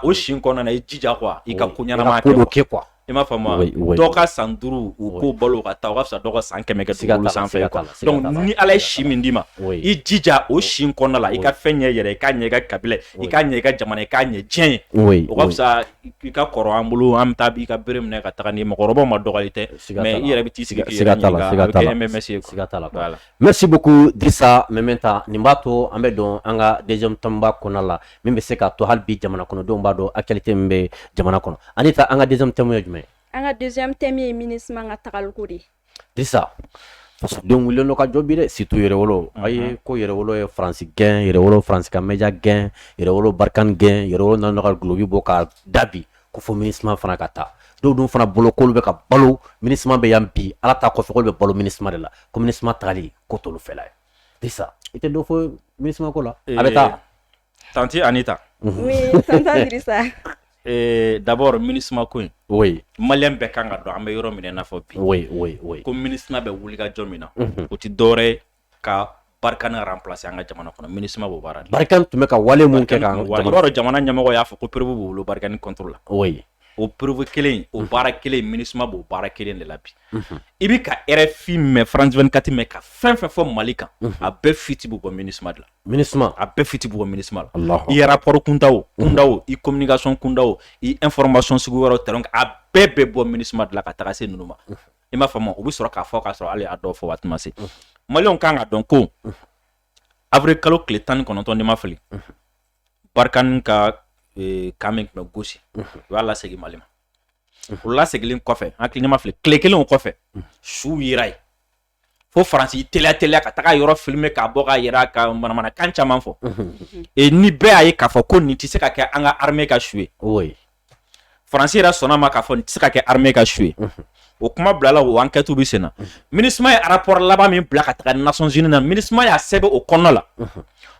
o si in kɔnɔna na i jija quoi i ka ko ɲɛnama kɛ quoi i m'a faamu wa dɔ ka san duuru u k'o balo ka taa o ka fisa dɔ ka san kɛmɛ kɛ dugukolo sanfɛ quoi donc ni Ala ye si min d'i ma i jija o si in kɔnɔna la i ka fɛn ɲɛ yɛrɛ i k'a ɲɛ i ka kabila ye i k'a ɲɛ i ka jamana ye i k'a ɲɛ diɲɛ ye o ka fisa i ka kɔrɔ an bolo an bɛ taa bi i ka bere minɛ ka taga ni mɔgɔkɔrɔba ma dɔgɔli tɛ mais i yɛrɛ bɛ t'i sigi merci beaucoup Drissa Meminta nin b'a to an bɛ don an ka deuxième thème ba kɔnɔna la min bɛ se ka to hali bi jamana kɔnɔdenw b'a dɔn actualité min bɛ jamana kɔnɔ Anita an ka deuxième thème ye jumɛn an ka deuxième thème ye MINUSMA ka tagako de Drisa fasodenw wulilen don ka jɔ bi dɛ surtout yɛrɛwolo a ye ko yɛrɛwolo ye faransi gɛn yɛrɛwolo faransi ka média gɛn yɛrɛwolo Barkhane gɛn yɛrɛwolo nana ka duloki bɔ ka dabi ko fɔ MINUSMA fana ka taa dɔw dun fana bolo k'olu bɛ ka balo MINUSMA bɛ yan bi ala ta kɔfɛ k'olu bɛ balo MINUSMA de la ko MINUSMA tagali ko t'olu fɛla ye Drisa i tɛ dɔ fɔ MINUSMA ko la a bɛ taa Tanti Anita d'abord MINUSMA ko in maliyɛn bɛɛ kan ka dɔn an bɛ yɔrɔ min n'a fɔ bi ko MINUSMA bɛ wuli ka jɔ min na o tɛ dɔwɛrɛ ye ka Barkhane remplacer an ka jamana kɔnɔ MINUSMA b'o baara Barkhane tun bɛ ka wale minnu kɛ yɔrɔ jamana ɲɛmɔgɔ y'a fɔ ko preuve b'u bolo Barkhane contre la o preuve kelen o baara kelen MINUSMA b'o baara kelen de la bi i bɛ ka RFI mɛn France 24 mɛn ka fɛn fɛn fɔ mali kan a bɛɛ fiti bɔ MINUSMA de la MINUSMA a bɛɛ fiti bɔ MINUSMA la i rapport kunda o i communication kunda o i information sugu wɛrɛ terrain a bɛɛ bɛ bɔ MINUSMA de la ka taa se ninnu ma i m'a faamu u bɛ sɔrɔ k'a fɔ k'a sɔrɔ hali a dɔw fɔ waati ma se maliyɛnw kan ka dɔn ko avril kalo tile tan ni kɔnɔntɔn ni n ma fili Barkhane ka e, camp min tun bɛ Gossi u y'a lasegin mali ma o laseginnen kɔfɛ an hakili ni n ma fili tile kelen kɔfɛ su yera yen fo faransi teliya teliya ka taga yɔrɔ filime k'a bɔ ka yɛrɛ ka manamanakan caman fɔ e ni bɛɛ y'a ye k'a fɔ ko nin tɛ se ka kɛ an ka armée ka su ye faransi yɛrɛ sɔnna a ma k'a fɔ nin tɛ se ka kɛ armée ka su ye o kuma bilala o enquête bɛ senna minisma ye rapport laban min bila ka taga Nations Unies na minisma y'a sɛbɛn o kɔnɔna la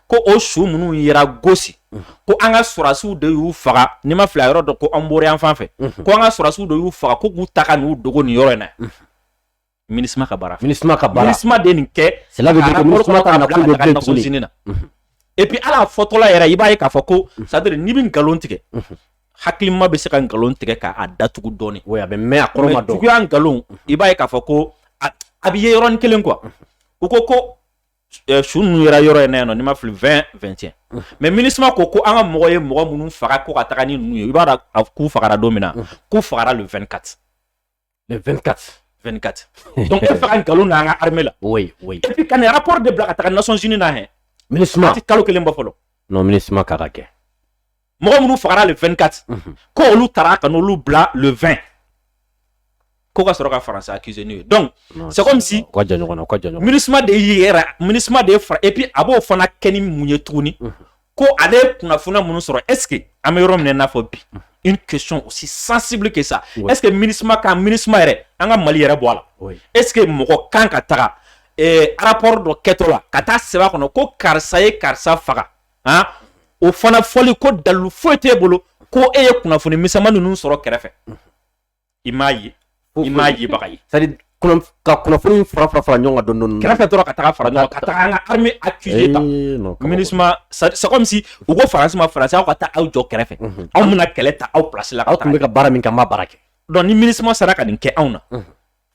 ko o su minnu yera Gossi ko an ka sɔrasiw de y'u faga n'i ma fili a yɔrɔ dɔ ko Hombori yan fan fɛ ko an ka sɔrasiw de y'u faga ko k'u ta ka n'u dogo nin yɔrɔ in na MINUSMA ka baara MINUSMA ka baara MINUSMA de nin kɛ Nations Unies na et puis ala fɔtɔla yɛrɛ i b'a ye k'a fɔ ko c'est à dire n'i bɛ nkalon tigɛ hakilima bɛ se ka nkalon tigɛ k'a datugu dɔɔnin a bɛ mɛn a kɔrɔ juguya nkalon i b'a ye k'a fɔ ko a bɛ ye yɔrɔnin kelen quoi u ko ko su ninnu yera yɔrɔ in na yan nɔ ni n ma fili 20 21 mais MINUSMA ko ko an ka mɔgɔ ye mɔgɔ minnu faga ko ka taa ni ninnu ye i b'a dɔn k'u fagara don min na k'u fagara le 24 le 24 24 donc e fɛ ka nkalon na an ka armée la oui oui et puis ka nin rapport de bila ka taga Nations Unies na hɛ MINUSMA ti kalo kelen bɔ fɔlɔ non MINUSMA ka ka kɛ mɔgɔ minnu fagara le 24 mhm. ko olu tara ka n'olu bila le 20 ko ka sɔrɔ ka faransi accuser n'u ye donc c'est comme si ka jɛ ɲɔgɔn na ka jɛ ɲɔgɔn MINUSMA de y'i yɛrɛ MINUSMA de ye fara et puis a b'o fana kɛ ni mun ye tuguni mhm. ko ale ye kunnafoniya minnu sɔrɔ est ce que an bɛ yɔrɔ min na i n'a fɔ bi une question aussi sensible que ça est ce que minisma ka minisma yɛrɛ an ka mali yɛrɛ bɔ a la est ce que mɔgɔ kan ka taga eh, rapport dɔ kɛtɔ la ka taa sɛbɛn a kɔnɔ ko karisa ye karisa faga han o fana fɔli ko dalilu foyi t'e bolo ko e ye kunnafoni misɛnman ninnu sɔrɔ kɛrɛfɛ i m'a ye i m'a ye baga ye c'est ka kunnafoni fara fara fara ɲɔgɔn kan dɔɔni dɔɔni kɛrɛfɛ dɔrɔn ka taga fara ɲɔgɔn kan ka taga an ka armée accuser ta minusima c'est comme si u ko faransi ma faransi aw ka taa aw jɔ kɛrɛfɛ mhm. anw bɛna kɛlɛ ta aw place la aw tun bɛ ka baara min kɛ an b'a baara kɛ donc ni minusima sera ka nin kɛ anw na mhm.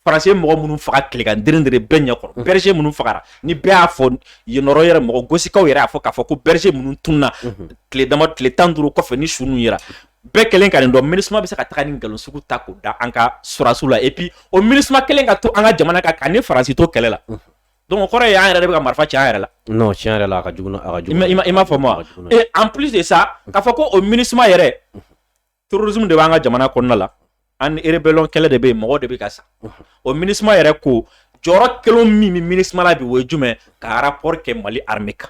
faransi ye mɔgɔ minnu faga tilegan de bɛɛ ɲɛkɔrɔ mm. berger minnu fagara ni bɛɛ y'a fɔ yen yɔrɔ yɛrɛ mɔgɔ gosikaw yɛrɛ y'a fɔ k'a fɔ ko berger minnu tunna mm-hmm. tile dama tile tan duuru kɔfɛ ni su ninnu yera bɛɛ kelen ka nin dɔn minisuma bɛ se ka taga nin nkalon sugu ta k'o da an ka sɔrɔdasiw la et puis o minisuma kelen ka to an ka jamana kan k'an ni faransi to kɛlɛ la mm-hmm. donc o kɔrɔ ye an yɛrɛ de bɛ ka marifa ci an yɛrɛ la non tiɲɛ yɛrɛ la a ka jugu a ka jugu i m'a faamu wa en plus de ça k'a fɔ ko o minisuma yɛrɛ mm-hmm. terrorisme de b'an ka jamana kɔnɔna la ani rébellion kɛlɛ de bɛ yen mɔgɔ de bɛ ka sa o minisma yɛrɛ ko jɔyɔrɔ kelen min bɛ minisma la bi o ye jumɛn ka rapport kɛ mali armée kan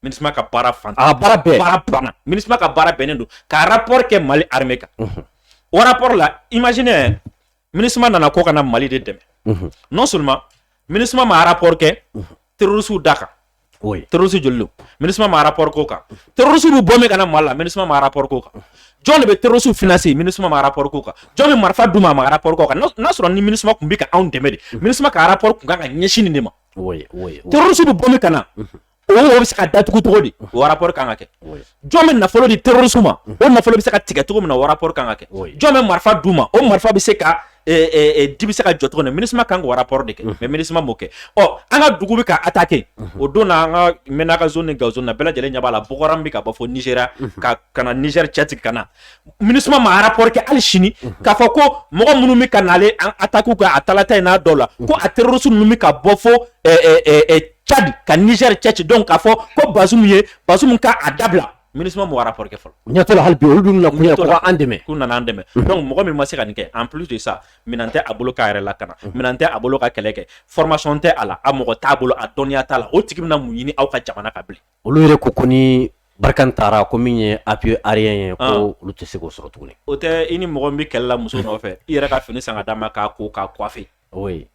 minisma ka baara fan a baara bɛɛ baara banna minisma ka baara bɛnnen don ka rapport kɛ mali armée kan o rapport la imaginez minisma nana ko ka na mali de dɛmɛ non seulement minisma ma rapport kɛ terroristes da kan terroristes joli don minisma ma rapport k'o kan terroristes bɛ bɔ min ka na mali la minisma ma rapport k'o kan jɔn de bɛ terroristes financer minisma ma rapport k'o kan jɔn bɛ marifa d'u ma a ma rapport k'o kan n'a sɔrɔ ni minisma tun bɛ ka anw dɛmɛ de minisma ka rapport tun kan ka ɲɛsin nin de ma terroristes bɛ bɔ min ka na o o bɛ se ka datugu cogo di o rapport kan ka kɛ jɔn bɛ nafolo di terroristes ma o nafolo bɛ se ka tigɛ cogo min na o rapport kan ka kɛ jɔn bɛ marifa d'u ma o marifa bɛ se ka di bɛ se ka jɔ cogo min na minisma kan k'o rapport de kɛ mais minisma m'o kɛ ɔ an ka dugu bɛ ka attaquer o don na an ka Menaka zone ni gawo zone na bɛɛ lajɛlen ɲɛ b'a la Boko Haram bɛ ka bɔ fo Nizeriya ka ka na Nizɛri cɛ tigɛ ka na minisma ma rapport kɛ hali sini k'a fɔ ko mɔgɔ minnu bɛ ka na les attaques kɛ à Talataye n'a dɔw la ko a terroristes ninnu bɛ ka bɔ fo cadi ka nizɛri cɛ ci donc k'a fɔ ko Bazoum ye Bazoum ka a dabila minisma m'o rapport kɛ fɔlɔ ɲɛtɔ hali olu dun na an dɛmɛ u nana an dɛmɛ donc mɔgɔ min ma se ka nin kɛ en plus de ça minɛn tɛ a bolo k'a yɛrɛ lakana minɛn tɛ a bolo ka kɛlɛ kɛ formation tɛ a la a mɔgɔ t'a bolo a dɔnniya t'a la o tigi bɛna mun ɲini aw ka jamana kan bilen olu yɛrɛ ko ko ni Barkhane taara ko min ye appui aérien ye ko ah. olu tɛ se k'o sɔrɔ tuguni o tɛ i ni mɔgɔ bɛ kɛlɛ la muso nɔfɛ i yɛrɛ ka fini san ka d'a ma k'a ko k'a coiffer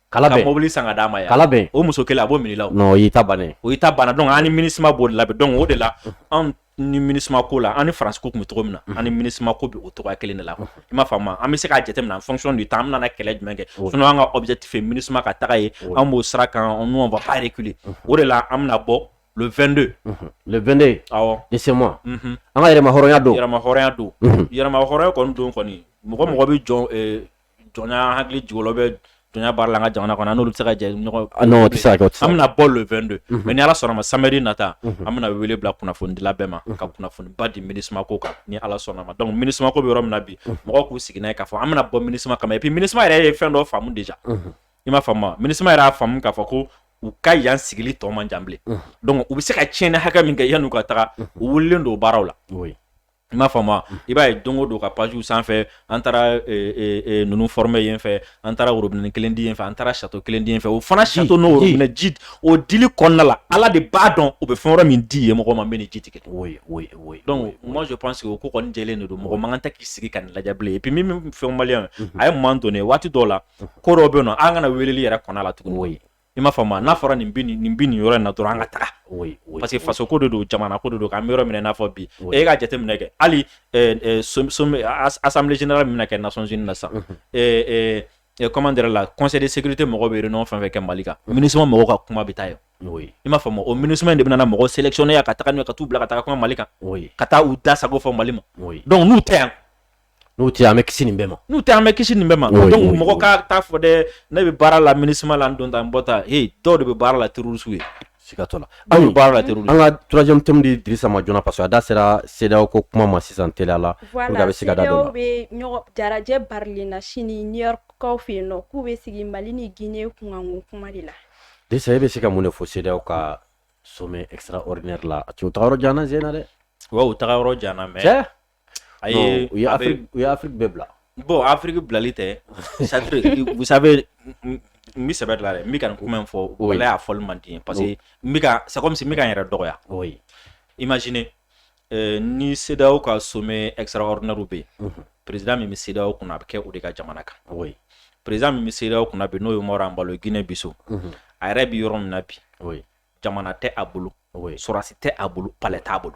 ka mɔbili san ka d'a ma ka laban o muso kelen a b'o minɛ i ta ban o ta banna donc an ni minisma b'o la donc o de la anw ni minisma ko la an ni faransi ko tun bɛ cogo min na an ni minisma ko bɛ o cogo kelen de la i m'a faamu wa an bɛ se k'a jate minɛ en fonction du temps an nana kɛlɛ jumɛn kɛ sinon an ka objectif ye minisma ka taga ye an b'o sira kan anw tɛ reculer o de la an bɛna bɔ le vingt-deux le vingt-deux de ce mois an ka yɛrɛmahɔrɔnya don yɛrɛmahɔrɔnya don yɛrɛmahɔrɔnya kɔni don kɔni mɔgɔ mɔgɔ bɛ jɔn jɔnya hakili jigilɔ bɛ jɔnya baara la an ka jamana kɔnɔ n'olu bɛ se ka jɛ ɲɔgɔn ah, an bɛna bɔ le 22 mhm. mais ni ala sɔnna ma samedi nata mhm. an bɛna wele bila kunnafonidila bɛɛ ma mhm. ka kunnafoniba di MINUSMA ko kan ni ala sɔnna ma donc MINUSMA ko bɛ yɔrɔ min na bi mɔgɔw k'u sigi n'a ye k'a fɔ an bɛna bɔ MINUSMA kama et puis MINUSMA yɛrɛ ye fɛn dɔ faamu déjà i m'a faamu MINUSMA yɛrɛ y'a faamu k'a fɔ ko u ka yan sigili tɔ man jan bilen donc u bɛ se ka tiɲɛni hakɛ min kɛ yann'u ka taga u wulilen don baaraw la i m'a faamu i b'a ye don o don ka page sanfɛ an taara ninnu former yen fɛ an taara robinet kelen di yen fɛ an taara château kelen di yen fɛ o fana château n'o robinet ji o dili kɔnɔna la ala de b'a dɔn o bɛ fɛn wɛrɛ min di yen mɔgɔ ma min ni ji tɛ kelen donc moi je pense que o ko kɔni jɛlen de don mɔgɔ man kan tɛ k'i sigi ka nin lajɛ bilen et puis min fɔ maliens ye moment donné waati dɔw la ko dɔ bɛ na an kana weleli yɛrɛ kɔnɔ la tuguni i m'a faamu n'a fɔra nin bɛ nin yɔrɔ in na dɔrɔn an ka taga parce que faso ko de don jamana ko de don k'an bɛ yɔrɔ min na fo bi e ka jateminɛ kɛ hali assemblée générale min bɛna kɛ Nations Unies na sisan comment dire la conseil de sécurité mɔgɔ bɛ réunion fɛn fɛn kɛ mali kan MINUSMA mɔgɔw ka kuma bɛ taa yen i m'a faamu o MINUSMA de bɛna mɔgɔ sélectionner ka taa ka taa kuma mali kan ka taa u da sago fɔ mali ma donc n'u tɛ yan N'u tɛ an bɛ kisi nin bɛɛ ma n'u tɛ an bɛ kisi nin bɛɛ ma donc mɔgɔ ka taa fɔ dɛ ne bɛ baara la MINUSMA la n don ta n bɔ ta ee dɔw de bɛ baara la terroriste ye siga t'o la anw baara la terroriste an ka troisième thème di Dirisa ma joona parce que a da sera CEDEAO ko kuma ma sisan teliya la bɛ se ka da bɛ lajɛ barilen na sini New York kaw fɛ yen nɔ k'u bɛ sigi mali ni Guinée kunkanko kuma de la Dirisa e bɛ se ka mun de fɔ CEDEAO ka sommet extraordinaire la a taa yɔrɔ jan sen na dɛ taga yɔrɔ jan mais A ye u u ye Afrique bɛɛ bila bon Afrique bilali tɛ c'est à dire vous savez n bɛ sɛbɛ de la dɛ n bɛ ka nin kuma in fɔ walahi a fɔli man di n ye parce que n bɛ ka c'est comme si n bɛ ka n yɛrɛ dɔgɔya oui imaginez euh, ni CEDEAO ka sommet extraordinaire bɛ yen président min bɛ CEDEAO kunna a bɛ kɛ o de ka jamana kan oui président min bɛ CEDEAO kunna bi n'o ye Umaru Anbalo ye Guinée Bissau a yɛrɛ bɛ yɔrɔ min na bi oui jamana tɛ a bolo oui sɔrɔdasi tɛ a bolo palais t'a bolo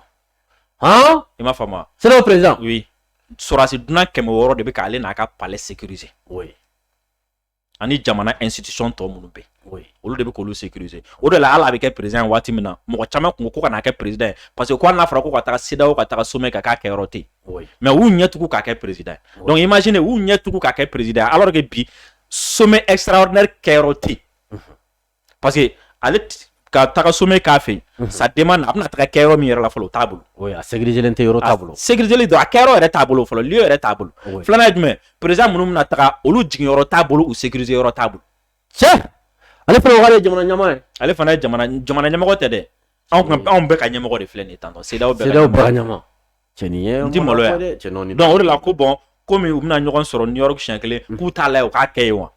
i m'a faamu sira perez sɔrɔsi dunan kɛmɛ wɔɔrɔ de bɛ k'ale n'a ka palɛ sekirize ani jamana nsitisi tɔ minnu bɛ olu de bɛ k'olu sekirize o de la ala a bɛ kɛ perez waati min na mɔgɔ caman kun ko kana' kɛ perez ye parce que ko n'a fɔra ko ka taa sedaw ka taa somɛ ka k'a kɛ yɔrɔ ten mɛ u ɲɛcogo k'a kɛ perezd ye dɔnku i ma sini u ɲɛcogo k'a kɛ perezd ye ala de bi somɛ esaraɛ kɛ yɔrɔ ten parce que ale ka taga sommet k'a fɛ ça demande a bɛna taa kɛ yɔrɔ min yɛrɛ la fɔlɔ t'a bolo sécuriselen tɛ yɔrɔ t'a bolo sécuriselen don a kɛyɔrɔ yɛrɛ t'a bolo fɔlɔ lieu yɛrɛ t'a bolo filanan ye jumɛn président minnu bɛna taga olu jigin yɔrɔ t'a bolo u sécuriser yɔrɔ t'a bolo cɛ ale fana jamana ɲɛmɔgɔ ye ale fana jamana ɲɛmɔgɔ tɛ dɛ anw bɛɛ ka ɲɛmɔgɔ de filɛ nin tan cɛn o de la ko bon kɔmi u bɛna ɲɔgɔn sɔrɔ New York siɲɛ kelen k'u t'a lajɛ u k'a kɛ yen wa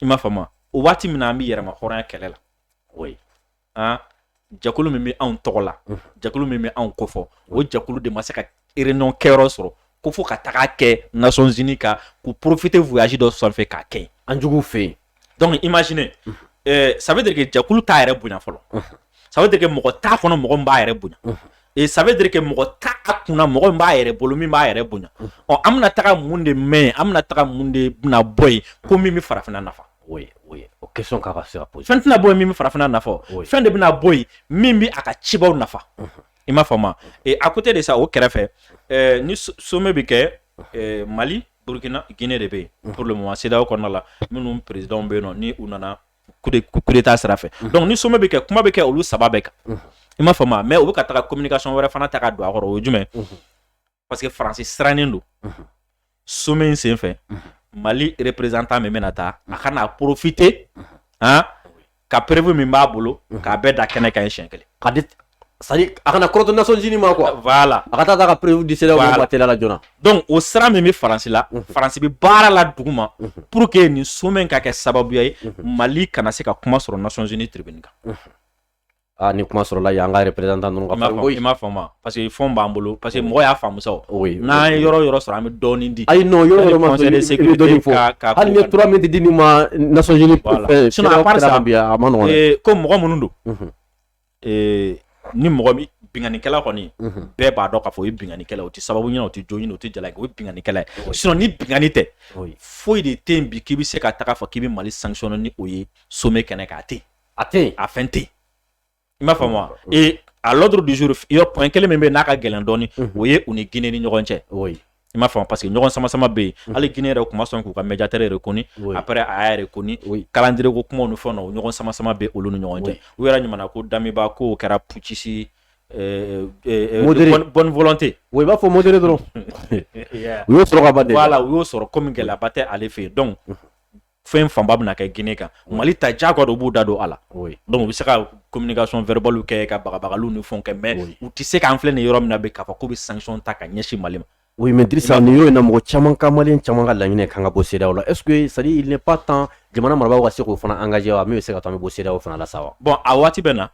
i m'a faamu o waati min na an bɛ yɛrɛma hɔrɔnya kɛlɛ la o ye an jɛkulu min bɛ anw tɔgɔ la jɛkulu min bɛ anw kofɔ o jɛkulu de ma se ka réunion kɛyɔrɔ sɔrɔ ko fo ka taga kɛ Nations Unies ka k'u profiter voyage dɔ sanfɛ k'a kɛ yen an juguw fɛ yen donc imaginez ça veut dire que jɛkulu t'a yɛrɛ bonya fɔlɔ ça veut dire que mɔgɔ t'a kɔnɔ mɔgɔ min b'a yɛrɛ bonya ça veut dire que mɔgɔ t'a kunna mɔgɔ min b'a yɛrɛ bolo min b'a yɛrɛ bonya ɔ an bɛna taga mun de mɛn an bɛna taga mun de bɛna bɔ yen ko min bɛ farafinna nafa o question ka fɛn tɛna bɔ yen min bɛ farafinna nafa fɛn de bɛna bɔ yen min bɛ a ka cibaw nafa i m'a faamu à côté de ça o kɛrɛfɛ ni sommet bɛ kɛ mali burukina gine de bɛ yen pour le moment CEDEAO kɔnɔna la minnu présidentw bɛ yen nɔ ni u nana coup d'état sira fɛ donc ni sommet bɛ kɛ kuma bɛ kɛ olu saba bɛɛ kan i m'a faamu mais u bɛ ka taa communication wɛrɛ fana ta ka don a kɔrɔ o jumɛn parce que faransi sirannen don sommet in senfɛ mali représentant min bɛna taa a kana profiter ka preuve min b'a bolo k'a bɛɛ da kɛnɛ kan siɲɛ kelen c'est-à-dire a kana kɔrɔtɔ Nations Unies ma quoi voilà a ka taa ka preuve di CEDEAO ma teliya la joona donc o sira min bɛ faransi la mhm. faransi bɛ baara la duguma mhm. pour que nin sommet ka kɛ sababuya ye mhm. mali kana se ka kuma sɔrɔ Nations Unies tribune kan a ah, ni kuma sɔrɔla yan an ka représentant ninnu ka fɔ i m'a faamu parce que fɛnw b'an bolo parce que mɔgɔ y'a faamu sa o n'an ye yɔrɔ yɔrɔ sɔrɔ an bɛ dɔɔnin di ayi non yɔrɔ yɔrɔ ma sɔrɔ i bɛ dɔɔnin fɔ hali ni ye trois minutes di nin ma Nations Unies fɛn sinon à part ça a ma nɔgɔn dɛ ko mɔgɔ minnu don ee ni mɔgɔ min binkanikɛla kɔni bɛɛ b'a dɔn k'a fɔ o ye binkanikɛla o tɛ sababu ɲini o tɛ jo ɲini o tɛ jala o ye binkanikɛla ye sinon ni binkani tɛ foyi de tɛ yen bi k'i bɛ se ka taga fɔ k'i bɛ Mali sanctionner ni o ye sommet kɛnɛ kan a tɛ yen a tɛ yen a fɛn tɛ yen i m'a faamu wa ee à l'ordre du jour point kelen min bɛ yen n'a ka gɛlɛn dɔɔni o ye u ni Guinée ni ɲɔgɔn cɛ. i m'a faamu parce que ɲɔgɔn sama sama bɛ yen mhm. hali Guinée yɛrɛ tun ma sɔn k'u ka médiateur reconnu après a y'a reconnu calendrier ko kumaw ni fɛnw na o ɲɔgɔn sama sama bɛ olu ni ɲɔgɔn cɛ u yɛrɛ ɲuman na ko Damiba k'o kɛra putschiste euh, euh, euh, modéré bonne volonté oui i b'a fɔ modéré dɔrɔn u y'o sɔrɔ ka ban de voilà u y'o sɔrɔ komi gɛlɛyaba tɛ ale fɛ yen donc mhm. fɛn fanba bɛna kɛ Guinée kan mali ta ja kɔ don b'u da don a la donc u bɛ se ka communication verbale kɛ ka bagabagaliw ni fɛnw kɛ mais u tɛ se k'an filɛ nin yɔrɔ min na bi k'a fɔ k'u bɛ sanction ta ka ɲɛsin mali ma oui mais Drissa ni y'o na mɔgɔ caman ka malien caman ka laɲini ye k'an ka bɔ CEDEAO la est-ce que c'est à dire il n'est pas temps jamana marabaw ka se k'o fana engager wa min bɛ se k'a to an bɛ bɔ CEDEAO fana la sa wa bon a waati bɛ na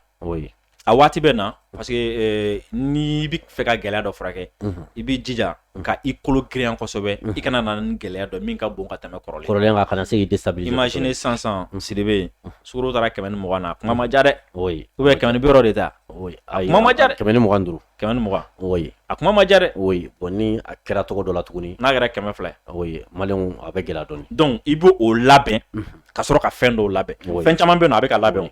a waati bɛ na parce que n'i bɛ fɛ ka gɛlɛya dɔ furakɛ i b'i jija ka i kolo girinya kosɛbɛ i kana na ni gɛlɛya dɔ min ka bon ka tɛmɛ kɔrɔlen kan kana se k'i déstabiliser imagine sisan Sidibe sukaro taara kɛmɛ ni mugan na kuma ma diya dɛ ou bien kɛmɛ ni bi wɔɔrɔ de ta kuma ma diya kɛmɛ ni mugan ni duuru kɛmɛ ni mugan oui a kuma ma diya dɛ oui bon ni a kɛra tɔgɔ dɔ la tuguni n'a kɛra kɛmɛ fila ye malienw a bɛ gɛlɛya dɔɔni donc i b'o labɛn ka sɔrɔ ka fɛn dɔw labɛn fɛn caman bɛ yen a bɛ ka labɛn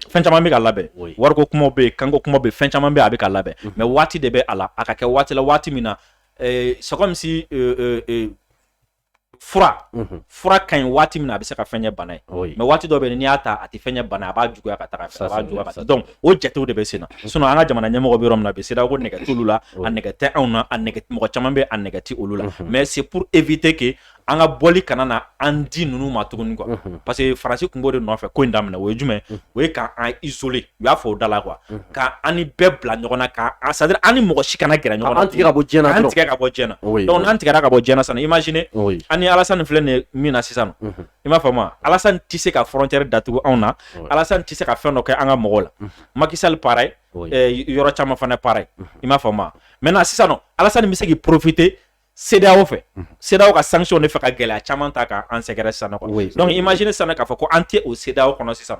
fɛn caman bɛ ka labɛn wariko kumaw bɛ yen kanko kuma bɛ fɛn caman bɛ a bɛ ka labɛn mais waati de bɛ a la a ka kɛ waati la waati min na c'est comme si fura fura ka ɲi waati min na a bɛ se ka fɛn ɲɛ bana ye mais waati dɔ bɛ n'i y'a ta a tɛ fɛn ɲɛ bana a b'a juguya ka taa a b'a ka donc o jatew de bɛ sen na sinon an ka jamana ɲɛmɔgɔw bɛ yɔrɔ min na bi CEDEAO ko nɛgɛ t'olu la a nɛgɛ tɛ anw na a mɔgɔ caman bɛ a nɛgɛ tɛ olu la mais c'est pour éviter que an ka bɔli kana na an di ninnu ma tuguni quoi parce que Faransi tun b'o de nɔfɛ ko in daminɛ o ye jumɛn o ye k'an isoler u y'a fɔ o da la quoi unhun, ka an ni bɛɛ bila ɲɔgɔn na ka an c'est à dire an ni mɔgɔ si kana gɛrɛ ɲɔgɔn na an tigɛ ka bɔ diɲɛ na an dɔrɔn tigɛ ka bɔ diɲɛ na oui donc n'an tigɛra ka bɔ diɲɛ na sisan imagine oui an ni Alassane filɛ nin ye min na sisan unhun, i m'a faamu wa Alassane tɛ se ka frontière datugu anw na Ouais. Alassane tɛ se ka fɛn dɔ kɛ an ka mɔgɔw la Mhm. Macky Sall pareil oui eh, yɔrɔ caman fana pareil i m'a faamu wa maintenant sisan nɔ Alassane bɛ se k'i profiter CEDEAO fɛ CEDEAO ka sanction de fɛ ka gɛlɛya caman ta ka an sɛgɛrɛ sisan nɔ quoi donc imagine sisan k'a fɔ ko an tɛ o CEDEAO kɔnɔ sisan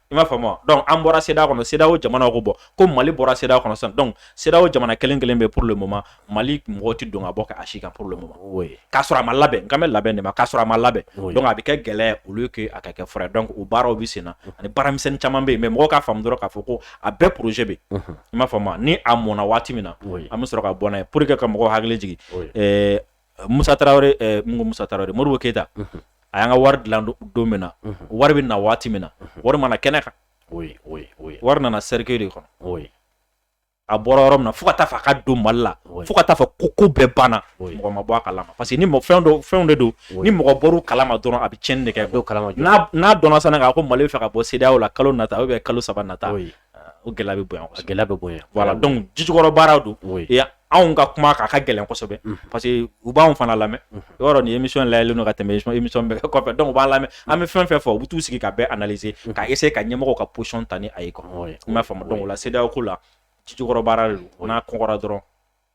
i m'a faamu wa donc an bɔra CEDEAO kɔnɔ CEDEAO jamanaw ko bon ko Mali bɔra CEDEAO kɔnɔ sisan donc CEDEAO jamana kelen kelen bɛ pour le moment Mali mɔgɔ tɛ don ka bɔ ka a si kan pour le moment k'a sɔrɔ a ma labɛn n kan bɛ labɛn de ma k'a sɔrɔ a ma labɛn donc a bɛ kɛ gɛlɛya ye au lieu que a ka kɛ fura ye donc o baaraw bɛ sen na ani baaramisɛnnin caman bɛ yen mais mɔgɔw k'a faamu dɔrɔn k'a fɔ ko a bɛɛ projet bɛ yen i m'a faamu ni a mɔnna waati min na an bɛ sɔrɔ ka bɔ n'a ye pour que ka mɔgɔw hakili jigin ɛɛ Musa Tarawele ɛɛ mun ko Musa Tarawele Modibo Keyita a y'an ka wari dilan don min na wari bɛ na waati min na wari ma na kɛnɛ kan wari nana cercueil de kɔnɔ a bɔra yɔrɔ min na fo ka taa fɔ a ka don Mali la fo ka taa fɔ ko ko bɛɛ banna mɔgɔ ma bɔ a kalama parce que ni fɛn dɔ fɛnw de don ni mɔgɔ bɔr'u kalama dɔrɔn a bɛ cɛnni de kɛ n'a dɔnna sisan k'a ko mali bɛ fɛ ka bɔ CEDEAO la kalo nata ou bien kalo saba nata o gɛlɛya bɛ bonya gɛlɛya bɛ bonya voilà donc jijukɔrɔ baara don anw ka kuma k'a ka gɛlɛn kosɛbɛ parce que u b'anw fana lamɛn yɔrɔ nin émission live ka tɛmɛ émission bɛɛ kɔfɛ donc u b'an lamɛn an bɛ fɛn fɛn fɔ u bɛ t'u sigi k'a bɛɛ analyser ka essayer ka ɲɛmɔgɔw ka position ta ni a ye quoi i m'a faamu donc o la CEDEAO ko la jijukɔrɔ baara de don n'a kɔnkɔrɔ dɔrɔn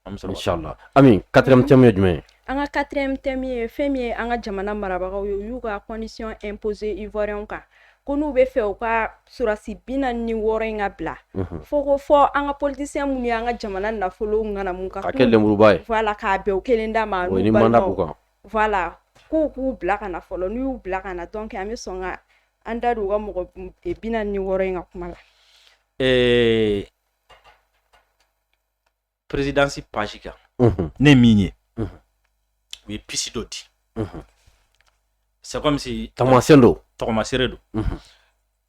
Ala Ami quatrième thème ye jumɛn ye an ka quatrième thème ye fɛn min ye an ka jamana marabagaw ye u y'u ka condition imposer ivoirien kan ko n'u bɛ fɛ u ka sɔrɔsi bi naani ni wɔɔrɔ in ka bila fo ko fɔ an ka politicien minnu ye an ka jamana nafolo ŋanamu ka kɛ lenmuruba ye voilà k'a bɛn u kelen da ma ni mandat b'u kan k'u bila ka na fɔlɔ n'u y'u bila ka na donc an bɛ sɔn ka an da don u ka mɔgɔ bi naani ni wɔɔrɔ in ka kuma la présidence page kan ne min ye u ye piste dɔ di c'est comme si taamasiyɛn don tɔgɔmasere don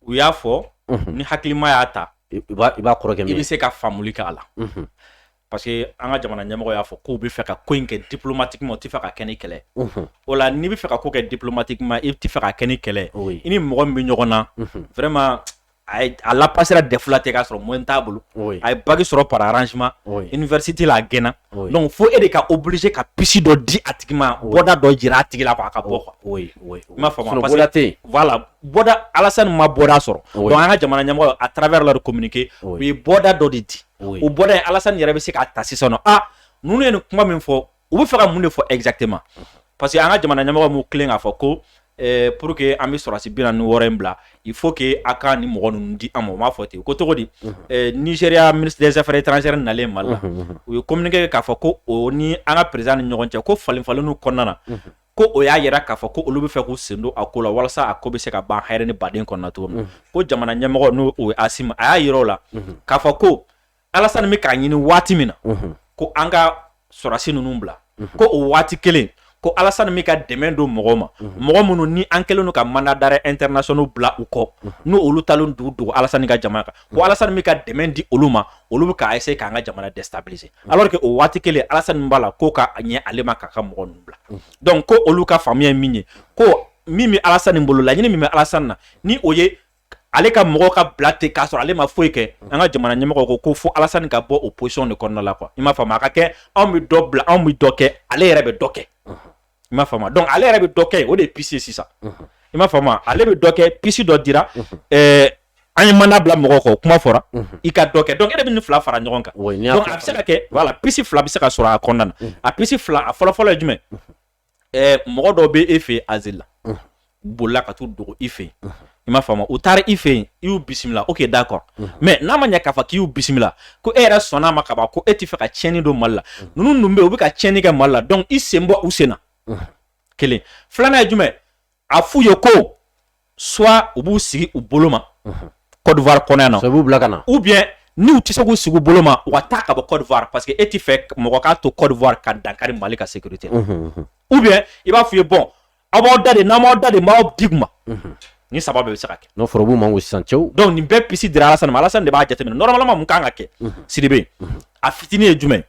u y'a fɔ ni hakilima y'a ta i b'a kɔrɔkɛ i bɛ se ka faamuli kɛ a la parce que an ka jamana ɲɛmɔgɔ y'a fɔ k'u bɛ fɛ ka ko in kɛ diplomatiquement u tɛ fɛ ka kɛ ni kɛlɛ o la n'i bɛ fɛ ka ko kɛ diplomatiquement i tɛ fɛ ka kɛ ni kɛlɛ i ni mɔgɔ min bɛ ɲɔgɔn na vraiment a lapasera DEF la ten k'a sɔrɔ moyenne t'a bolo a ye bac sɔrɔ par arrangement université la a gɛnna donc fo e de ka obligé ka piste dɔ di a tigi ma bɔda dɔ jira a tigi la quoi a ka bɔ i m'a faamu bɔda Alassane ma bɔda sɔrɔ donc an ka jamana ɲɛmɔgɔ à travers leur communiqué u ye bɔda dɔ de di o bɔda Alassane yɛrɛ bɛ se k'a ta sisan n ninnu ye nin kuma min fɔ u bɛ fɛ ka mun de fɔ exactement parce que an ka jamana ɲɛmɔgɔ m'u tilen k'a fɔ ko eh, pour que an bɛ sɔrɔsi bi naani ni wɔɔrɔ in bila il faut que a ka nin mɔgɔ ninnu di an ma u m'a fɔ ten ko cogo di eh, Nigeria ministre des affaires étrangères nalen Mali la u ye communiqué kɛ k'a fɔ ko o ni an ka président ni ɲɔgɔn cɛ ko falenfalenniw kɔnɔna na ko o y'a yira k'a fɔ ko olu bɛ fɛ k'u sen don a ko la walasa a ko bɛ se ka ban hɛrɛ ni baden kɔnɔna cogo min na ko jamana ɲɛmɔgɔ n'o ye Asimi a y'a yira o la k'a fɔ ko Alassane bɛ k'a ɲini waati min na ko an ka sɔrɔsi ninnu bila ko o waati kelen ko Alassane bɛ ka dɛmɛ don mɔgɔw ma mɔgɔ minnu ni an kɛlen don ka mandat d'arrêt international bila u kɔ n'o olu talen dogo dogo Alassane ka jamana kan ko Alassane bɛ ka dɛmɛ di olu ma olu bɛ ka essayer k'an ka jamana déstabiliser alors que o waati kelen Alassane b'a la ko k'a ɲɛ ale ma k'a ka mɔgɔ ninnu bila donc ko olu ka faamuya ye min ye ko min bɛ Alassane bolo laɲini min bɛ Alassane na ni o ye ale ka mɔgɔw ka bila ten k'a sɔrɔ ale ma foyi kɛ an ka jamana ɲɛmɔgɔ ko ko fo Alassane ka bɔ o position de kɔnɔna la quoi i m'a faamu a ka kɛ anw bɛ dɔ bila anw bɛ dɔ kɛ ale yɛrɛ bɛ dɔ kɛ i m'a faamu donc ale yɛrɛ bɛ dɔ kɛ o de ye piste ye sisan i m'a faamu ale bɛ dɔ kɛ piste dɔ dira an ye mandat bila mɔgɔw kɔ kuma fɔra i ka dɔ kɛ donc e de bɛ nin fila fara ɲɔgɔn kan a bɛ se ka kɛ voilà piste fila bɛ se ka sɔrɔ a kɔnɔna na a piste fila a fɔlɔfɔlɔ ye jumɛn mɔgɔ dɔw bɛ e fɛ yen asile la bolila ka t'u dogo i fɛ yen i m'a faamu u taara i fɛ yen i y'u bisimila ok d'accord mais n'a ma ɲɛ k'a fɔ k'i y'u bisimila ko e yɛrɛ sɔnna a ma ka ban ko e tɛ fɛ ka tiɲɛni don Mali la ninnu dun bɛ yen u bɛ ka tiɲɛni kɛ Mali la donc i sen bɔ u sen na kelen filanan ye jumɛn a f'u ye ko soit u b'u sigi u bolo ma Côte d'Ivoire kɔnɔ yan nɔ, soit u b'u bila ka na ou bien n'u tɛ se k'u sigi u bolo ma u ka taa ka bɔ Côte d'Ivoire parce que e tɛ fɛ mɔgɔ ka to Côte d'Ivoire ka dankari Mali ka sécurité la ou bien i b'a f'u ye bon aw b'aw da de n'aw m'aw da de n b'aw di u ma nin saba bɛɛ bɛ se ka kɛ n'o fɔra u b'u mango sisan cɛw donc nin bɛɛ piste dira Alassane ma Alassane de b'a jateminɛ normalement mun kan ka kɛ Sidibe a fitinin ye jumɛn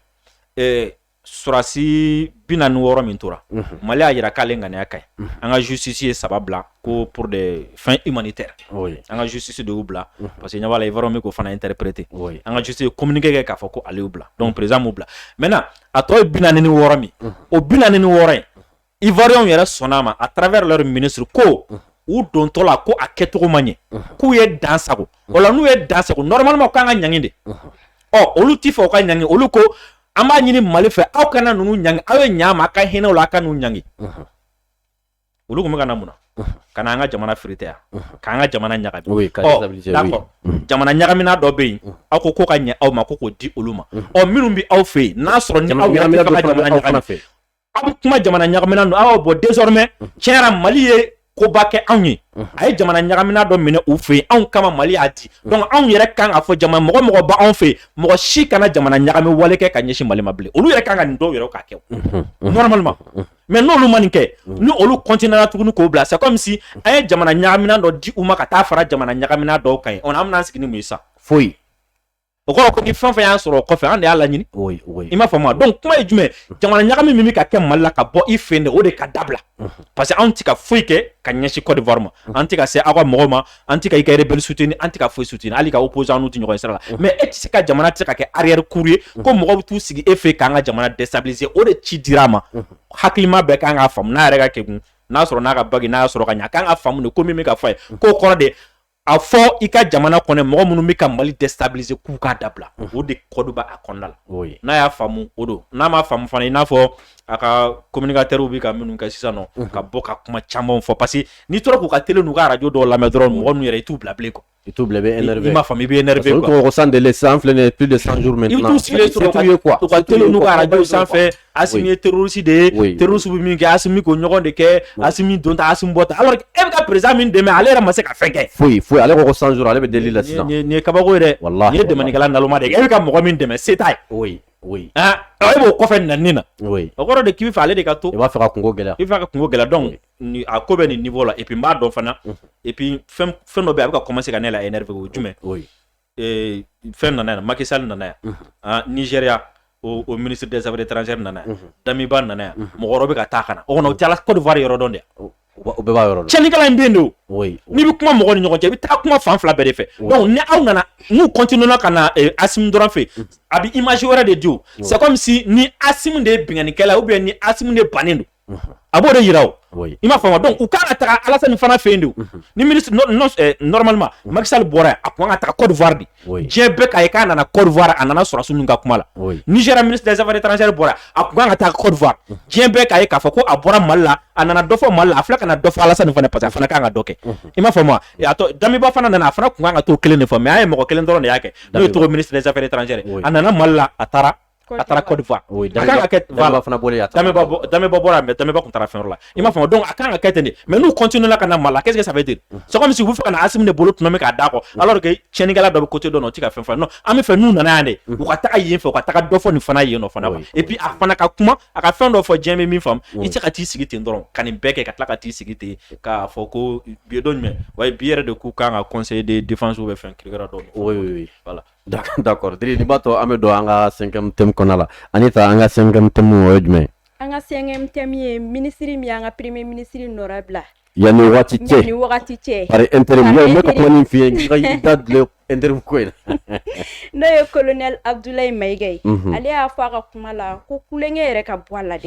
ye sɔsi bi na ni wɔɔrɔ min tora mali y'a jira k'ale ŋaniya ka ɲi an ka zusi ye saba bila ko pur de fɛn i man tɛ an ka zusi de bila parce que ɲamakala la i yɔrɔ min ko fana in tɛprete an ka juse komkɛ kɛ k'a fɔ ko ale bila dɔn perezmu bila mɛ a tɔ ye bi ni wɔɔrɔ min o bi ni wɔɔrɔ in ivoiriyɛnw yɛrɛ sɔnna a ma à travers leur ministre ko u dontɔ la ko a kɛcogo ma ɲɛ k'u ye dan sago o la n'u ye dan sago normalement u kan ka ɲangi de ɔ olu ti fɛ u ka ɲangi olu ko an b'a ɲini mali fɛ aw kana ninnu ɲangi aw ye ɲa ma a ka hinɛ u la a kan'u ɲangi olu tun bɛ ka na mun na ka na an ka jamana firite yan k'an ka jamana ɲagami Oui, ka Ɔ, déstabiliser, d'accord. jamana ɲagamina dɔ bɛ yen aw ko ko ka ɲɛ aw ma ko k'o di olu ma ɔ minnu bɛ aw fɛ yen n'a sɔrɔ ni aw yɛrɛ tɛ fɛ ka jamana ɲagami fɛ aw bɛ kuma jamana ɲagamina don aw bɔ désormais tiɲɛ yɛrɛ mali ye koba kɛ anw ye a ye jamana ɲagamina dɔ minɛ u fɛ yen anw kama mali y'a di donc anw yɛrɛ kan k'a fɔ jamana mɔgɔ mɔgɔ b'anw fɛ mɔgɔ si kana jamana ɲagami wale kɛ ka ɲɛsin mali ma bilen olu yɛrɛ kan ka nin dɔw yɛrɛ ka kɛ normalement mais n'olu ma nin kɛ ni olu continuera tuguni k'o bila c'est comme si an ye jamana ɲagamina dɔ di u ma ka taa fara jamana ɲagamina dɔw kan yen o an bɛna sigi ni mun ye sisan foyi o kɔrɔ ko ni fɛn fɛn y'an sɔrɔ o kɔfɛ an de y'a laɲini i m'a faamu donc kuma ye jumɛn jamana ɲagami min bɛ ka kɛ mali la ka bɔ i fɛ yen de o de ka dabila parce que anw tɛ ka foyi kɛ ka ɲɛsin Côte d'Ivoire ma an tɛ ka se aw ka mɔgɔw ma an tɛ ka i ka rebelle soutenir an tɛ ka foyi soutenir hali i ka opposant n'u tɛ ɲɔgɔn ye sira la mais e tɛ se ka jamana tɛ se ka kɛ arrière cour ye ko mɔgɔw bɛ t'u sigi e fɛ k'an ka jamana déstabiliser o de ci dira a ma hakilima bɛɛ kan k'a faamu n'a yɛrɛ ka kegun n'a sɔrɔ n'a ka bac in a y'a sɔrɔ ka ɲɛ a kan k'a faamu de ko min bɛ ka fɔ a ye k'o kɔrɔ de a fɔ i ka jamana kɔnɔ mɔgɔ minnu bɛ ka mali tɛ sabilise k'u k'a dabila o de kɔduba a kɔnɔna la n'a y'a faamumu o don n'a ma faamumu fana i n'a fɔ a ka komkatɛriw bɛ ka minnu kɛ sisan nɔ ka bɔ ka kuma caman fɔ parce que n'i tora k'u ka teli n'u araj dɔw lamɛn dɔrɔn mɔgɔ min yɛrɛ i t'u bila bilen kɔ i t'u bila i b'a fɔ i bɛ san de san filɛ de sanj sanfɛ Asimi ye terroriste de ye terroriste bɛ min kɛ Asimi k'o ɲɔgɔn de kɛ Asimi don ta Asimi bɔ ta e bɛ ka président min dɛmɛ ale yɛrɛ ma se ka fɛn kɛ foyi foyi ale ko cent jours ale bɛ deli la sisan nin ye kabako ye dɛ nin ye dɛmɛkɛla naloma de ye e bɛ ka mɔgɔ min dɛmɛ se t'a ye e b'o kɔfɛ nani na o kɔrɔ de k'i b'a fɛ ale de ka to i b'a fɛ ka kungo gɛlɛya i b'a fɛ ka kungo gɛlɛya donc a ko bɛ nin niveau la et puis n b'a dɔn fana et puis fɛn dɔ bɛ yen a bɛ ka commencer ka ne la énerver o jumɛn ee, fɛn nana yan Macky Sall nana yan ah, Nigeria o, o ministre des affaires étrangères nana yan Damiba nana yan mɔgɔ wɛrɛ bɛ ka taa ka na o kɔnɔ u tɛ Ala- Côte d'Ivoire yɔrɔ dɔn de yan u ba- u bɛɛ b'a yɔrɔ dɔn cɛnnikɛla in bɛ yen de o oui n'i bɛ kuma mɔgɔ ni ɲɔgɔn cɛ i bɛ taa kuma fan fila bɛɛ de fɛ Oui. donc ni aw nana n'u continuera ka na eh, Asim dɔrɔn fɛ yen a bɛ image wɛrɛ de di o c'est comme si ni Asim de ye binkannikɛla ye ou bien ni Asim de bannen don a b'o de jira o i m'a faamu donc u kan ka taa Alassane fana fɛ yen de ni normalement Macky Sall bɔra a kun kan ka taa Côte d'Ivoire de diɲɛ bɛɛ k'a ye k'a nana Côte d'Ivoire a nana sɔrɔdasi ninnu ka kuma la Nigeria ministre des affaires étrangères bɔra a kun kan ka taa Côte d'Ivoire diɲɛ bɛɛ k'a ye k'a fɔ ko a bɔra mali la a nana dɔ fɔ mali la a filɛ ka na dɔ fɔ Alassane fana parce que a fana kun kan ka dɔ kɛ i m'a faamu Damiba fana nana a fana tun kan ka t'o kelen de fɔ mais an ye mɔgɔ kelen dɔrɔn de y'a kɛ n'o ye Togo ministre des affaires étrangères a nana mali la a taara a taara Côte d'Ivoire oui a kan ka kɛ voilà fana bɔlen a taara Damiba Damiba bɔra mais Damiba tun taara fɛn wɛrɛ la i m'a faamu donc a kan ka kɛ ten de mais n'u continuer la ka na Mali la qu'est-ce que ça veut dire c'est comme si u bɛ fɛ ka na Asim de bolo tɔnɔmi k'a d'a kɔ alors que tiɲɛnikɛla dɔ bɛ côté dɔ la o tɛ ka fɛn fɔ non an bɛ fɛ n'u nana yan de u ka taga yen fɛ u ka taga dɔ fɔ nin fana yen nɔ fana quoi et puis a fana ka kuma a ka fɛn dɔ fɔ diɲɛ bɛ min faamu i tɛ se ka t'i sigi ten dɔrɔn ka nin bɛɛ kɛ ka tila ka t'i sigi ten k'a fɔ ko bi don jumɛn wa bi yɛrɛ de k'u kan ka conseil de défense ou bien fɛn kirikira dɔ oui oui voilà D'accord Dri n'i b'a to an bɛ don an ka cinquième thème kɔnɔ la Anita an ka cinquième thème o ye jumɛn an ka cinquième thème ye ministre min an ka premier ministre nɔra bila yanni waati cɛ ni wagati cɛ intérim ko in n'o ye colonel Abdoulaye Maïga ye ale y'a fɔ a ka kuma la ko kukɛ yɛrɛ ka bɔ a la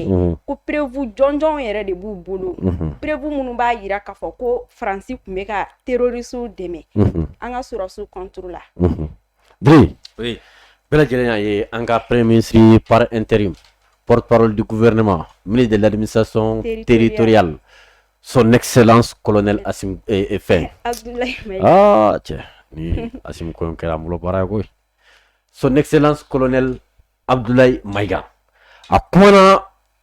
ko preuve jɔnjɔn yɛrɛ de b'u bolo preuve minnu b'a jira k'a fɔ ko faransi tun bɛ ka terroristes dɛmɛ an ka sɔrɔdasiw contre la Dri oui bɛɛ lajɛlen y'a ye an ka premier ministre par intérim porte parole du gouvernement ministre de l'administration territoriale son excellence colonel Asim eh, eh, fɛn Abdoulaye Maïga ah cɛ ni Asim ko in kɛra an bolo baara ye koyi son excellence colonel Abdoulaye Maïga a kumana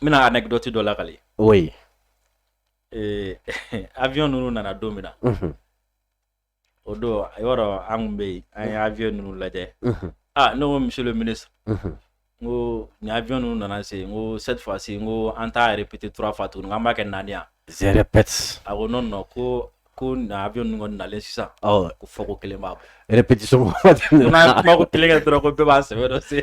n bɛna anecdote dɔ lakali aw ye ee, avion ninnu nana don min na Mhm, o don i b'a dɔn an kun bɛ yen an ye avion ninnu lajɛ mhm, ah ne ko monsieur le ministre mhm. n ko ni avion ninnu nana se n ko cette fois ci n ko an t'a répéter trois fois tuguni n k'an b'a kɛ naani yan je répète a ko non non ko ko na avion ninnu kɔni nalen sisan awɔ ko fɔko kelen b'a bɔ répétition ko n'a kuma ko kelen kɛ dɔrɔn ko bɛɛ b'a sɛbɛ dɔn se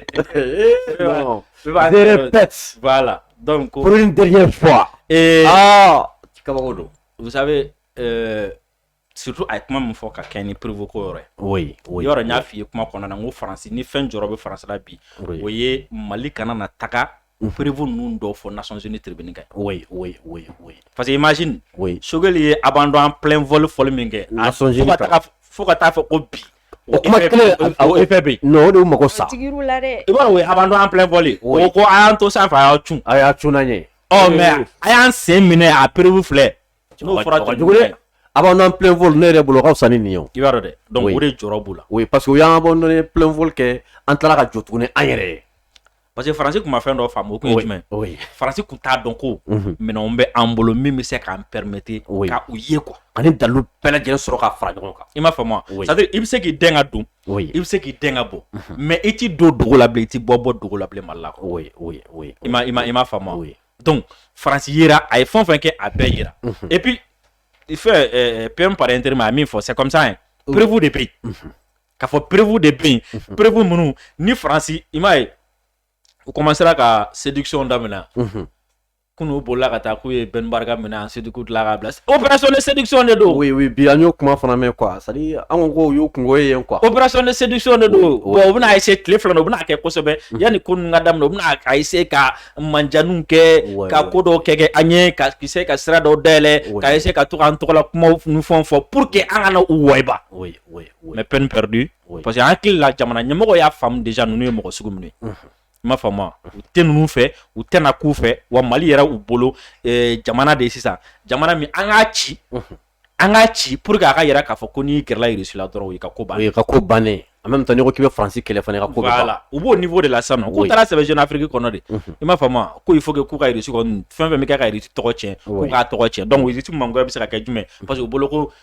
non bɛɛ b'a je sɛbɛ dɔ- répète voilà donc ko pour une dernière fois ee ah kabako don vous savez euh, surtout a ye kuma min fɔ ka kɛ ni preuve ko yɔrɔ ye oui oui yɔrɔ n y'a f'i ye kuma kɔnɔna na n ko faransi ni fɛn jɔrɔ bɛ faransi la bi o oui ye mali kana na taga u perefu ninnu dɔ fɔ nasɔnz ni tibiini kɛ parce que maz sokɛli ye a b'an dɔn an pfɔli fɔli min kɛ fo ka taa fɔ ko bi o kuma e bɛ o de mako sa b'a a dɔn an pfɔli o ko a y'an to san fɛ a y'a c a y'a c ye ɔ mɛ a y'an sen minɛ a perebu filɛ fɔra a b'an dɔn pfɔ ne yɛrɛ bolokaw san nin ye i'a dɛ dɔnku o de jɔ b'u la o ye pa que y'an bɔ n ye pfɔli kɛ an taara ka jɔ tuguni an yɛrɛ ye parce que faransi tun ma fɛn dɔ faamu o tun ye jumɛn faransi tun t'a dɔn ko mhm. minɛnw bɛ an bolo min bɛ se k'an permettre ka u ye quoi ani dalu bɛɛ lajɛlen sɔrɔ ka fara ɲɔgɔn kan i m'a faamu wa c'est à dire i bɛ se k'i den ka don i bɛ se k'i den ka bɔ mhm. mais i t'i don dogo la bilen i t'i bɔ bɔ dogo la bilen mali la quoi i ma i ma i m'a faamu wa donc faransi yera a ye fɛn o fɛn kɛ a bɛɛ yera mhm. et puis fɛn euh, PM par intérim a ye min fɔ c'est comme ça hein preuve de bɛ yen K'a fɔ preuve de bɛ yen preuve minnu ni faransi i m'a ye u commencera ka séduction daminɛ kunun bolila ka taa k'u ye Ben Barka minɛ ensuite tila k'a bila opération de séduction de don bi an y'o kuma fana mɛn quoi c'est à dire an ko y'o kungo ye yen quoi opération de séduction de don u bɛna essayer tile fila u bɛn'a kɛ kosɛbɛ yanni ko ka daminɛ u bɛna essayer ka manjanw kɛ ka ko dɔw kɛ kɛ an ye ka essayer ka sira dɔw dayɛlɛ ka essayer ka to an tɔgɔla kuma fɔ fɔ pour que an kana u wayiba mais peine perdue parce que an hakili la jamana ɲɛmɔgɔ y'a faamu déjà ninnu ye mɔgɔ sugu minnu ye i m'a faamu u tɛ ninnu fɛ u tɛna k'u fɛ wa mali yɛrɛ u bolo eh, jamana de ye sisan jamana min an k'a ci an k'a ci pour que a k'a yira k'a fɔ ko n'i gɛrɛla russie la dɔrɔn i ka ko bannen i ka ko bannen en même temps n'i ko k'i bɛ faransi kɛlɛ fana i ka ko ban voilà u b'o niveau de la sisan k'u taara sɛbɛn jeune afrique kɔnɔ de i m'a faamu ko il faut k'u ka fɛn fɛn bɛɛ kɛ ka russie tɔgɔ cɛn k'u k'a tɔgɔ cɛn donc russie mangoya bɛ se ka kɛ jumɛn parce que bolo ko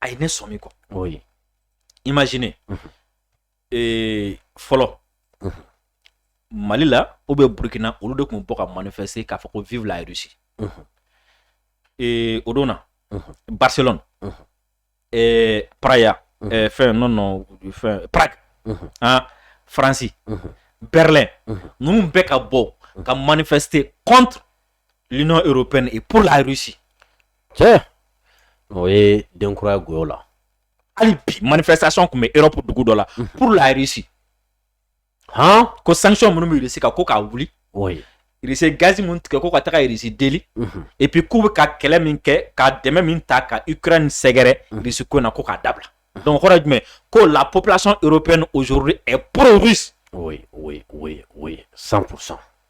a ye ne sɔmi quoi oui imagine ee fɔlɔ mali la ou bien burukina olu de tun bɔ ka manifester k'a fɔ ko vive la russie ee o don na barcelone ee praya ee fɛn non non fɛn prague ah faransi berlin ninnu bɛɛ ka bɔ ka manifester contre l'Union européenne et pour la Russie. Tiens, o ye den kura ye quoi voilà hali bi manifestation tun bɛ europe dugu dɔ la mhm. pour la russie han ko sanction minnu bɛ russie kan ko k'a wuli russie gazi minnu tigɛ ko ka taga russie deli mhm. et puis k'u bɛ ka kɛlɛ min kɛ ka dɛmɛ min ta ka ukraine sɛgɛrɛ mhm. russie ko in na ko k'a dabila donc kɔrɔ ye jumɛn ko la population européenne aujourd'hui est pro russe oui oui oui oui 100 pour cent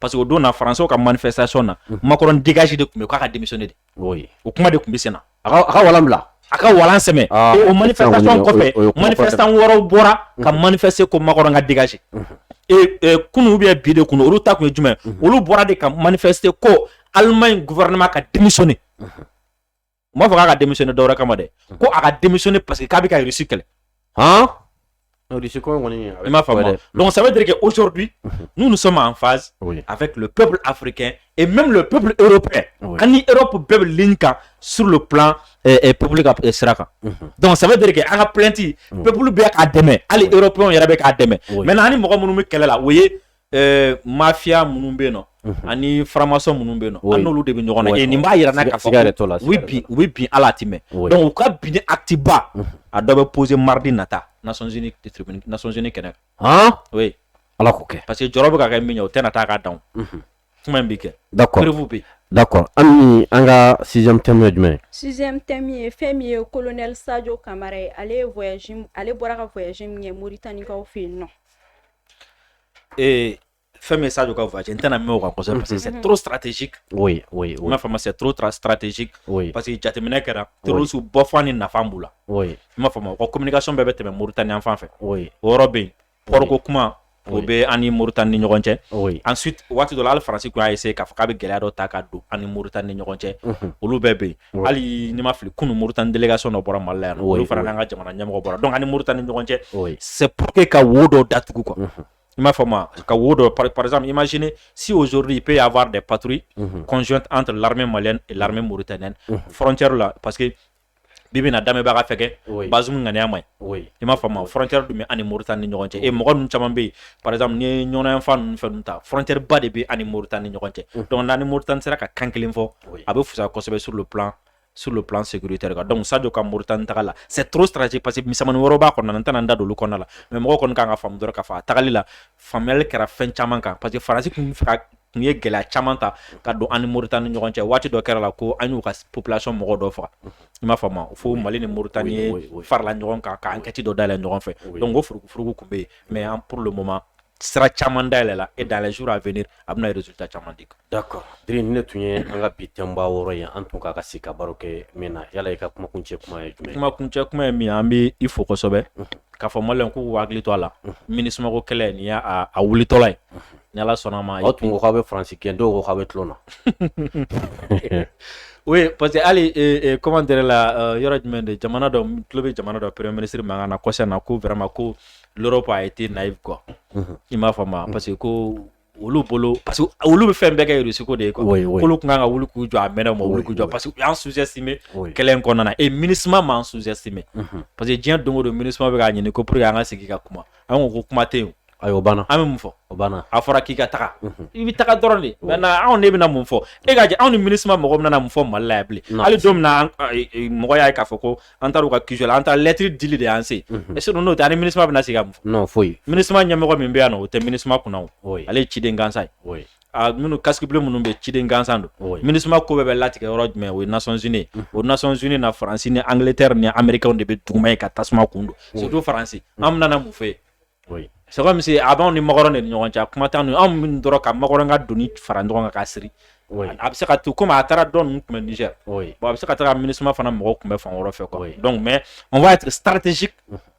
parce que o don na faransiw ka manifestation na mhm. Macron dégage de tun bɛ k'a ka démissionner de o kuma de tun bɛ sen na a ka walan bila a ka walan sɛmɛ ah, o manifestation kɔfɛ manifestant wɛrɛw bɔra mhm. ka manifester ko Macron ka dégager mhm. e, e, kunu ou bien bi de kunu olu ta tun ye jumɛn olu bɔra de ka manifester ko Allemagne gouvernement ka démissionner u m'a fɔ k'a ka démissionner dɔwɛrɛ kama dɛ hmm. ko a ka démissionner parce que k'a bɛ ka irisi kɛlɛ han irisi ko kɔni i m'a faamu dɛ donc ça veut dire que aujourd'hui hmm. nous nous sommes en phase oui. avec le peuple africain et même le peuple européen oui. an ni Europe bɛɛ bɛ ligne kan sur le plan eh, eh, public eh, sira kan mm -hmm. donc ça veut dire que an ka plainte oui. peuple bɛ k'a dɛmɛ hali oui. européen yɛrɛ bɛ k'a dɛmɛ oui. maintenant an ni mɔgɔ minnu bɛ kɛlɛ la o ye eh, mafia minnu bɛ yen nɔ mhm. ani faramasɔn minnu bɛ yen nɔ an n'olu de bɛ ɲɔgɔn na eh, nin b'a yira an na k'a fɔ u bɛ bin u bɛ bin ala a tɛ mɛn donc u ka binni acte ba mhm. a dɔ bɛ poser mardi nata Nations Unies tribune Nations Unies kɛnɛ kan oui ala k'o kɛ parce que jɔrɔ bɛ ka kɛ min ye o tɛna taa k'a dan mhm. kuma in bɛ kɛ d'accord preuve bɛ yen d'accord an ni an ka sixième thème ye jumɛn ye sixième thème ye fɛn min ye colonel Sadio Kamara ye ale ye voyage ale bɔra ka voyage min kɛ Mauritanie kaw fɛ yen nɔ ee fɛn min ye Sadio ka voyage n tɛna mɛn o kan kosɛbɛ parce que c'est trop stratégique oui oui oui i m'a faamu c'est trop tra- stratégique oui parce que jateminɛ kɛra terroriste bɔfan ni nafan b'u la oui i m'a faamu u ka communication bɛɛ bɛ tɛmɛ Mauritanie yan fan fɛ oui o yɔrɔ bɛ yen port ko kuma o Oui. bɛ an ni Mauritanie ni ɲɔgɔn cɛ oui ensuite waati dɔ la hali faransi tun y'a essayer k'a fɔ k'a bɛ gɛlɛya dɔ ta ka don an ni Mauritanie ni ɲɔgɔn cɛ Mhm. olu bɛɛ bɛ yen hali ne ma fili kunun mori tan delikaka sɔn dɔ bɔra mali yan olu fana n'an ka jamana ɲɛmɔgɔ bɔra dɔn ni mori tan ni ɲɔgɔn cɛ se po que ka wo dɔ datugu kɔ i m'a fɔ ma ka wo dɔ parizme imagine si ozodi pe y'a fɔ de pattouru kɔnɔn an lamɛ mali lamɛn mori tɛ n fcɛri la parce que bi bɛna na daminɛbaga ka fɛ kɛ baz ŋaniya ma ye i m'a faamu frontière dun bɛ an ni Mauritanie ni ɲɔgɔn cɛ e mɔgɔ ninnu caman bɛ yen par exemple n'i ye Nioro yan fan ninnu fɛn ninnu ta frontière ba de bɛ an ni Mauritanie ni ɲɔgɔn cɛ mm. donc n'an ni Mauritanie sera ka kan kelen fɔ a bɛ fusaya kosɛbɛ sur le plan sur le plan sécuritaire kan donc Sadio ka Mauritanie taga la c'est trop stratégique parce que misɛnmannin wɛrɛw b'a kɔnɔna n tɛna n da don olu kɔnɔna la mais mɔgɔw kɔni kan k'a faamu dɔrɔn k'a fɔ a tagali la faamuyali kɛra fɛn caman kan parce que faransi tun fɛ ka tun ye gɛlɛya caman ta ka don an ni Moritani ni ɲɔgɔn cɛ waati dɔ kɛra la ko an y'u ka population mɔgɔ dɔ faga i m'a faamu fo Mali ni Moritani farala ɲɔgɔn kan ka enquête dɔ dayɛlɛ ɲɔgɔn fɛ donc o furukufuruku tun bɛ yen mais an pour le moment sira caman dayɛlɛla et dans les jours à venir a bɛna résultat caman di d'accord Diri nin tun ye an ka bi thème ba wɔɔrɔ ye an tun kan ka sigi ka baro kɛ min na yala i ka kumakuncɛ kuma ye jumɛn ye kumakuncɛ kuma ye min ye an bɛ i fo kosɛbɛ k'a fɔ maliyɛnw k'u hakili to a la MINUSMA ko kɛlɛ nin y'a wulitɔla ye ni ala sɔnna a ma aw tun ko k'a bɛ faransi gɛn dɔw ko k'a bɛ tulon na o parce que hali comment dire la euh, yɔrɔ jumɛn de jamana dɔ tulo bɛ jamana dɔ premier ministre mankan na kɔsa in na ko vraiment ko l'Europe a été naïve quoi mhm. i m'a faamu parce que ko olu bolo parce que olu bɛ fɛn bɛɛ kɛ Russie ko de ye quoi k'olu tun kan ka wuli k'u jɔ a mɛnna u ma wuli k'u jɔ parce que u y'an sous-estimer kɛlɛ in kɔnɔna na et MINUSMA m'an sous-estimer mhm. parce que diɲɛ don o don MINUSMA bɛ k'a ɲini ko pour que an ka sigi ka kuma an ko ko kuma tɛ yen Ayi o banna an bɛ mun fɔ o banna a fɔra k'i ka taga i bɛ taga dɔrɔn de mais anw de bɛna mun fɔ e ka anw ni MINUSMA mɔgɔ bɛna mun fɔ mali la yan bilen hali don min na mɔgɔ y'a ye k'a fɔ ko an taara u ka QG la an taara lɛtiri dili de y'an se yen n'o tɛ an ni MINUSMA bɛna sigi ka mun fɔ foyi MINUSMA ɲɛmɔgɔ min bɛ yan o tɛ MINUSMA kunna ale ye ciden gansan ye minnu casques bleus minnu bɛ ciden gansan don MINUSMA ko bɛɛ bɛ latigɛ yɔrɔ jumɛn o ye Nations Unies o Nations Unies na faransi ni Angleterre ni Américains de bɛ duguma ye ka tasuma kun don surtout faransi an bɛna mun fɔ ye c'est comme si a b'an ni makɔrɔn de ni ɲɔgɔn cɛ kuma tɛ anw min dɔrɔn ka makɔrɔn ka doni fara ɲɔgɔn kan k'a siri a bɛ se ka to komi a taara dɔ ninnu kunbɛn Niger la a bɛ se ka taa MINUSMA fana mɔgɔw kunbɛn fan wɛrɛ fɛ quoi donc mais on va être stratégique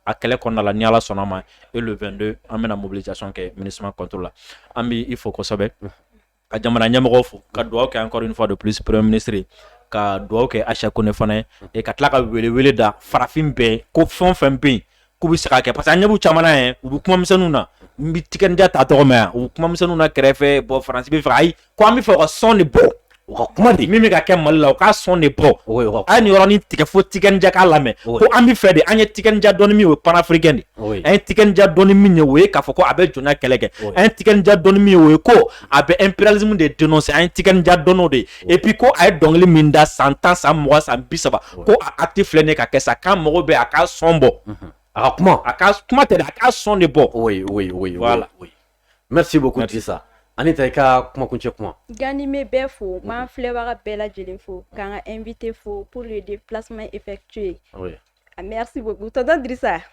a kɛlɛ kɔnɔna la ni ala sɔnna a ma et le 22 an bɛna mobilisation kɛ MINUSMA contre la an b' i fo kosɛbɛ ka jamana ɲɛmɔgɔ fo ka dugawu kɛ encore une fois de plus premier ministre ye ka dugawu kɛ Aicha Kone fana ye et ka tila ka welewele da farafin bɛɛ ko fɛn o fɛn bɛ yen k'u bɛ se k'a kɛ parce que an ɲɛ b'u caman na yɛrɛ u bɛ kuma misɛnninw na n bɛ Tiken Jah ta tɔgɔ mɛn yan u bɛ kuma misɛnninw na kɛrɛfɛ bon faransi bɛ fɛ ayi ko an bɛ fɛ u ka son de bɔ u ka kuma de min bɛ ka kɛ mali la u ka son de bɔ a ye nin yɔrɔnin tigɛ fo Tiken Jah k'a lamɛn ko an bɛ fɛ de an ye Tiken Jah dɔn ni min ye o ye panafricain de an ye Tiken Jah dɔn ni min ye o ye k'a fɔ ko a bɛ jɔnya kɛlɛ kɛ an ye Tiken Jah dɔn ni min ye o ye ko a bɛ impérialisme de dénoncer an ye Tiken Jah dɔn de ye et puis ko a ye dɔnkili min da san tan san mugan san bi saba ko a acte filɛ nin ka kɛ sa k'an mago bɛ a ka son bɔ a ka kuma a ka kuma tɛ a ka son de bɔ merci beaucoup Drissa Anita i ka kuma kuncɛ kumakan ne bɛ bɛɛ fo n b'an filɛbaga bɛɛ lajɛlen fo k'an ka invité fo pour le déplacement effectué A merci beaucoup tonton Drissa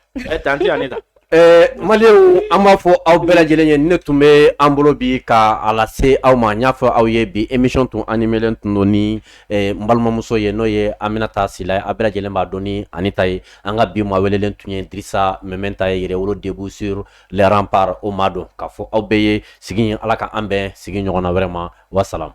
tanti Anita maliyɛnw an b'a fɔ aw bɛɛ lajɛlen ye nin de tun bɛ an bolo bi ka a lase aw ma n y'a fɔ aw ye bi émission tun animelen tun don ni n balimamuso ye n'o ye Aminata Sila ye aw bɛɛ lajɛlen b'a dɔn ni Anita ye an ka bi maa welelen tun ye Drissa Meminta ye Yɛrɛwolo debout sur les remparts o maa don k'a fɔ aw bɛɛ ye sigi ala ka an bɛn sigi ɲɔgɔn na wɛrɛ ma wasalamu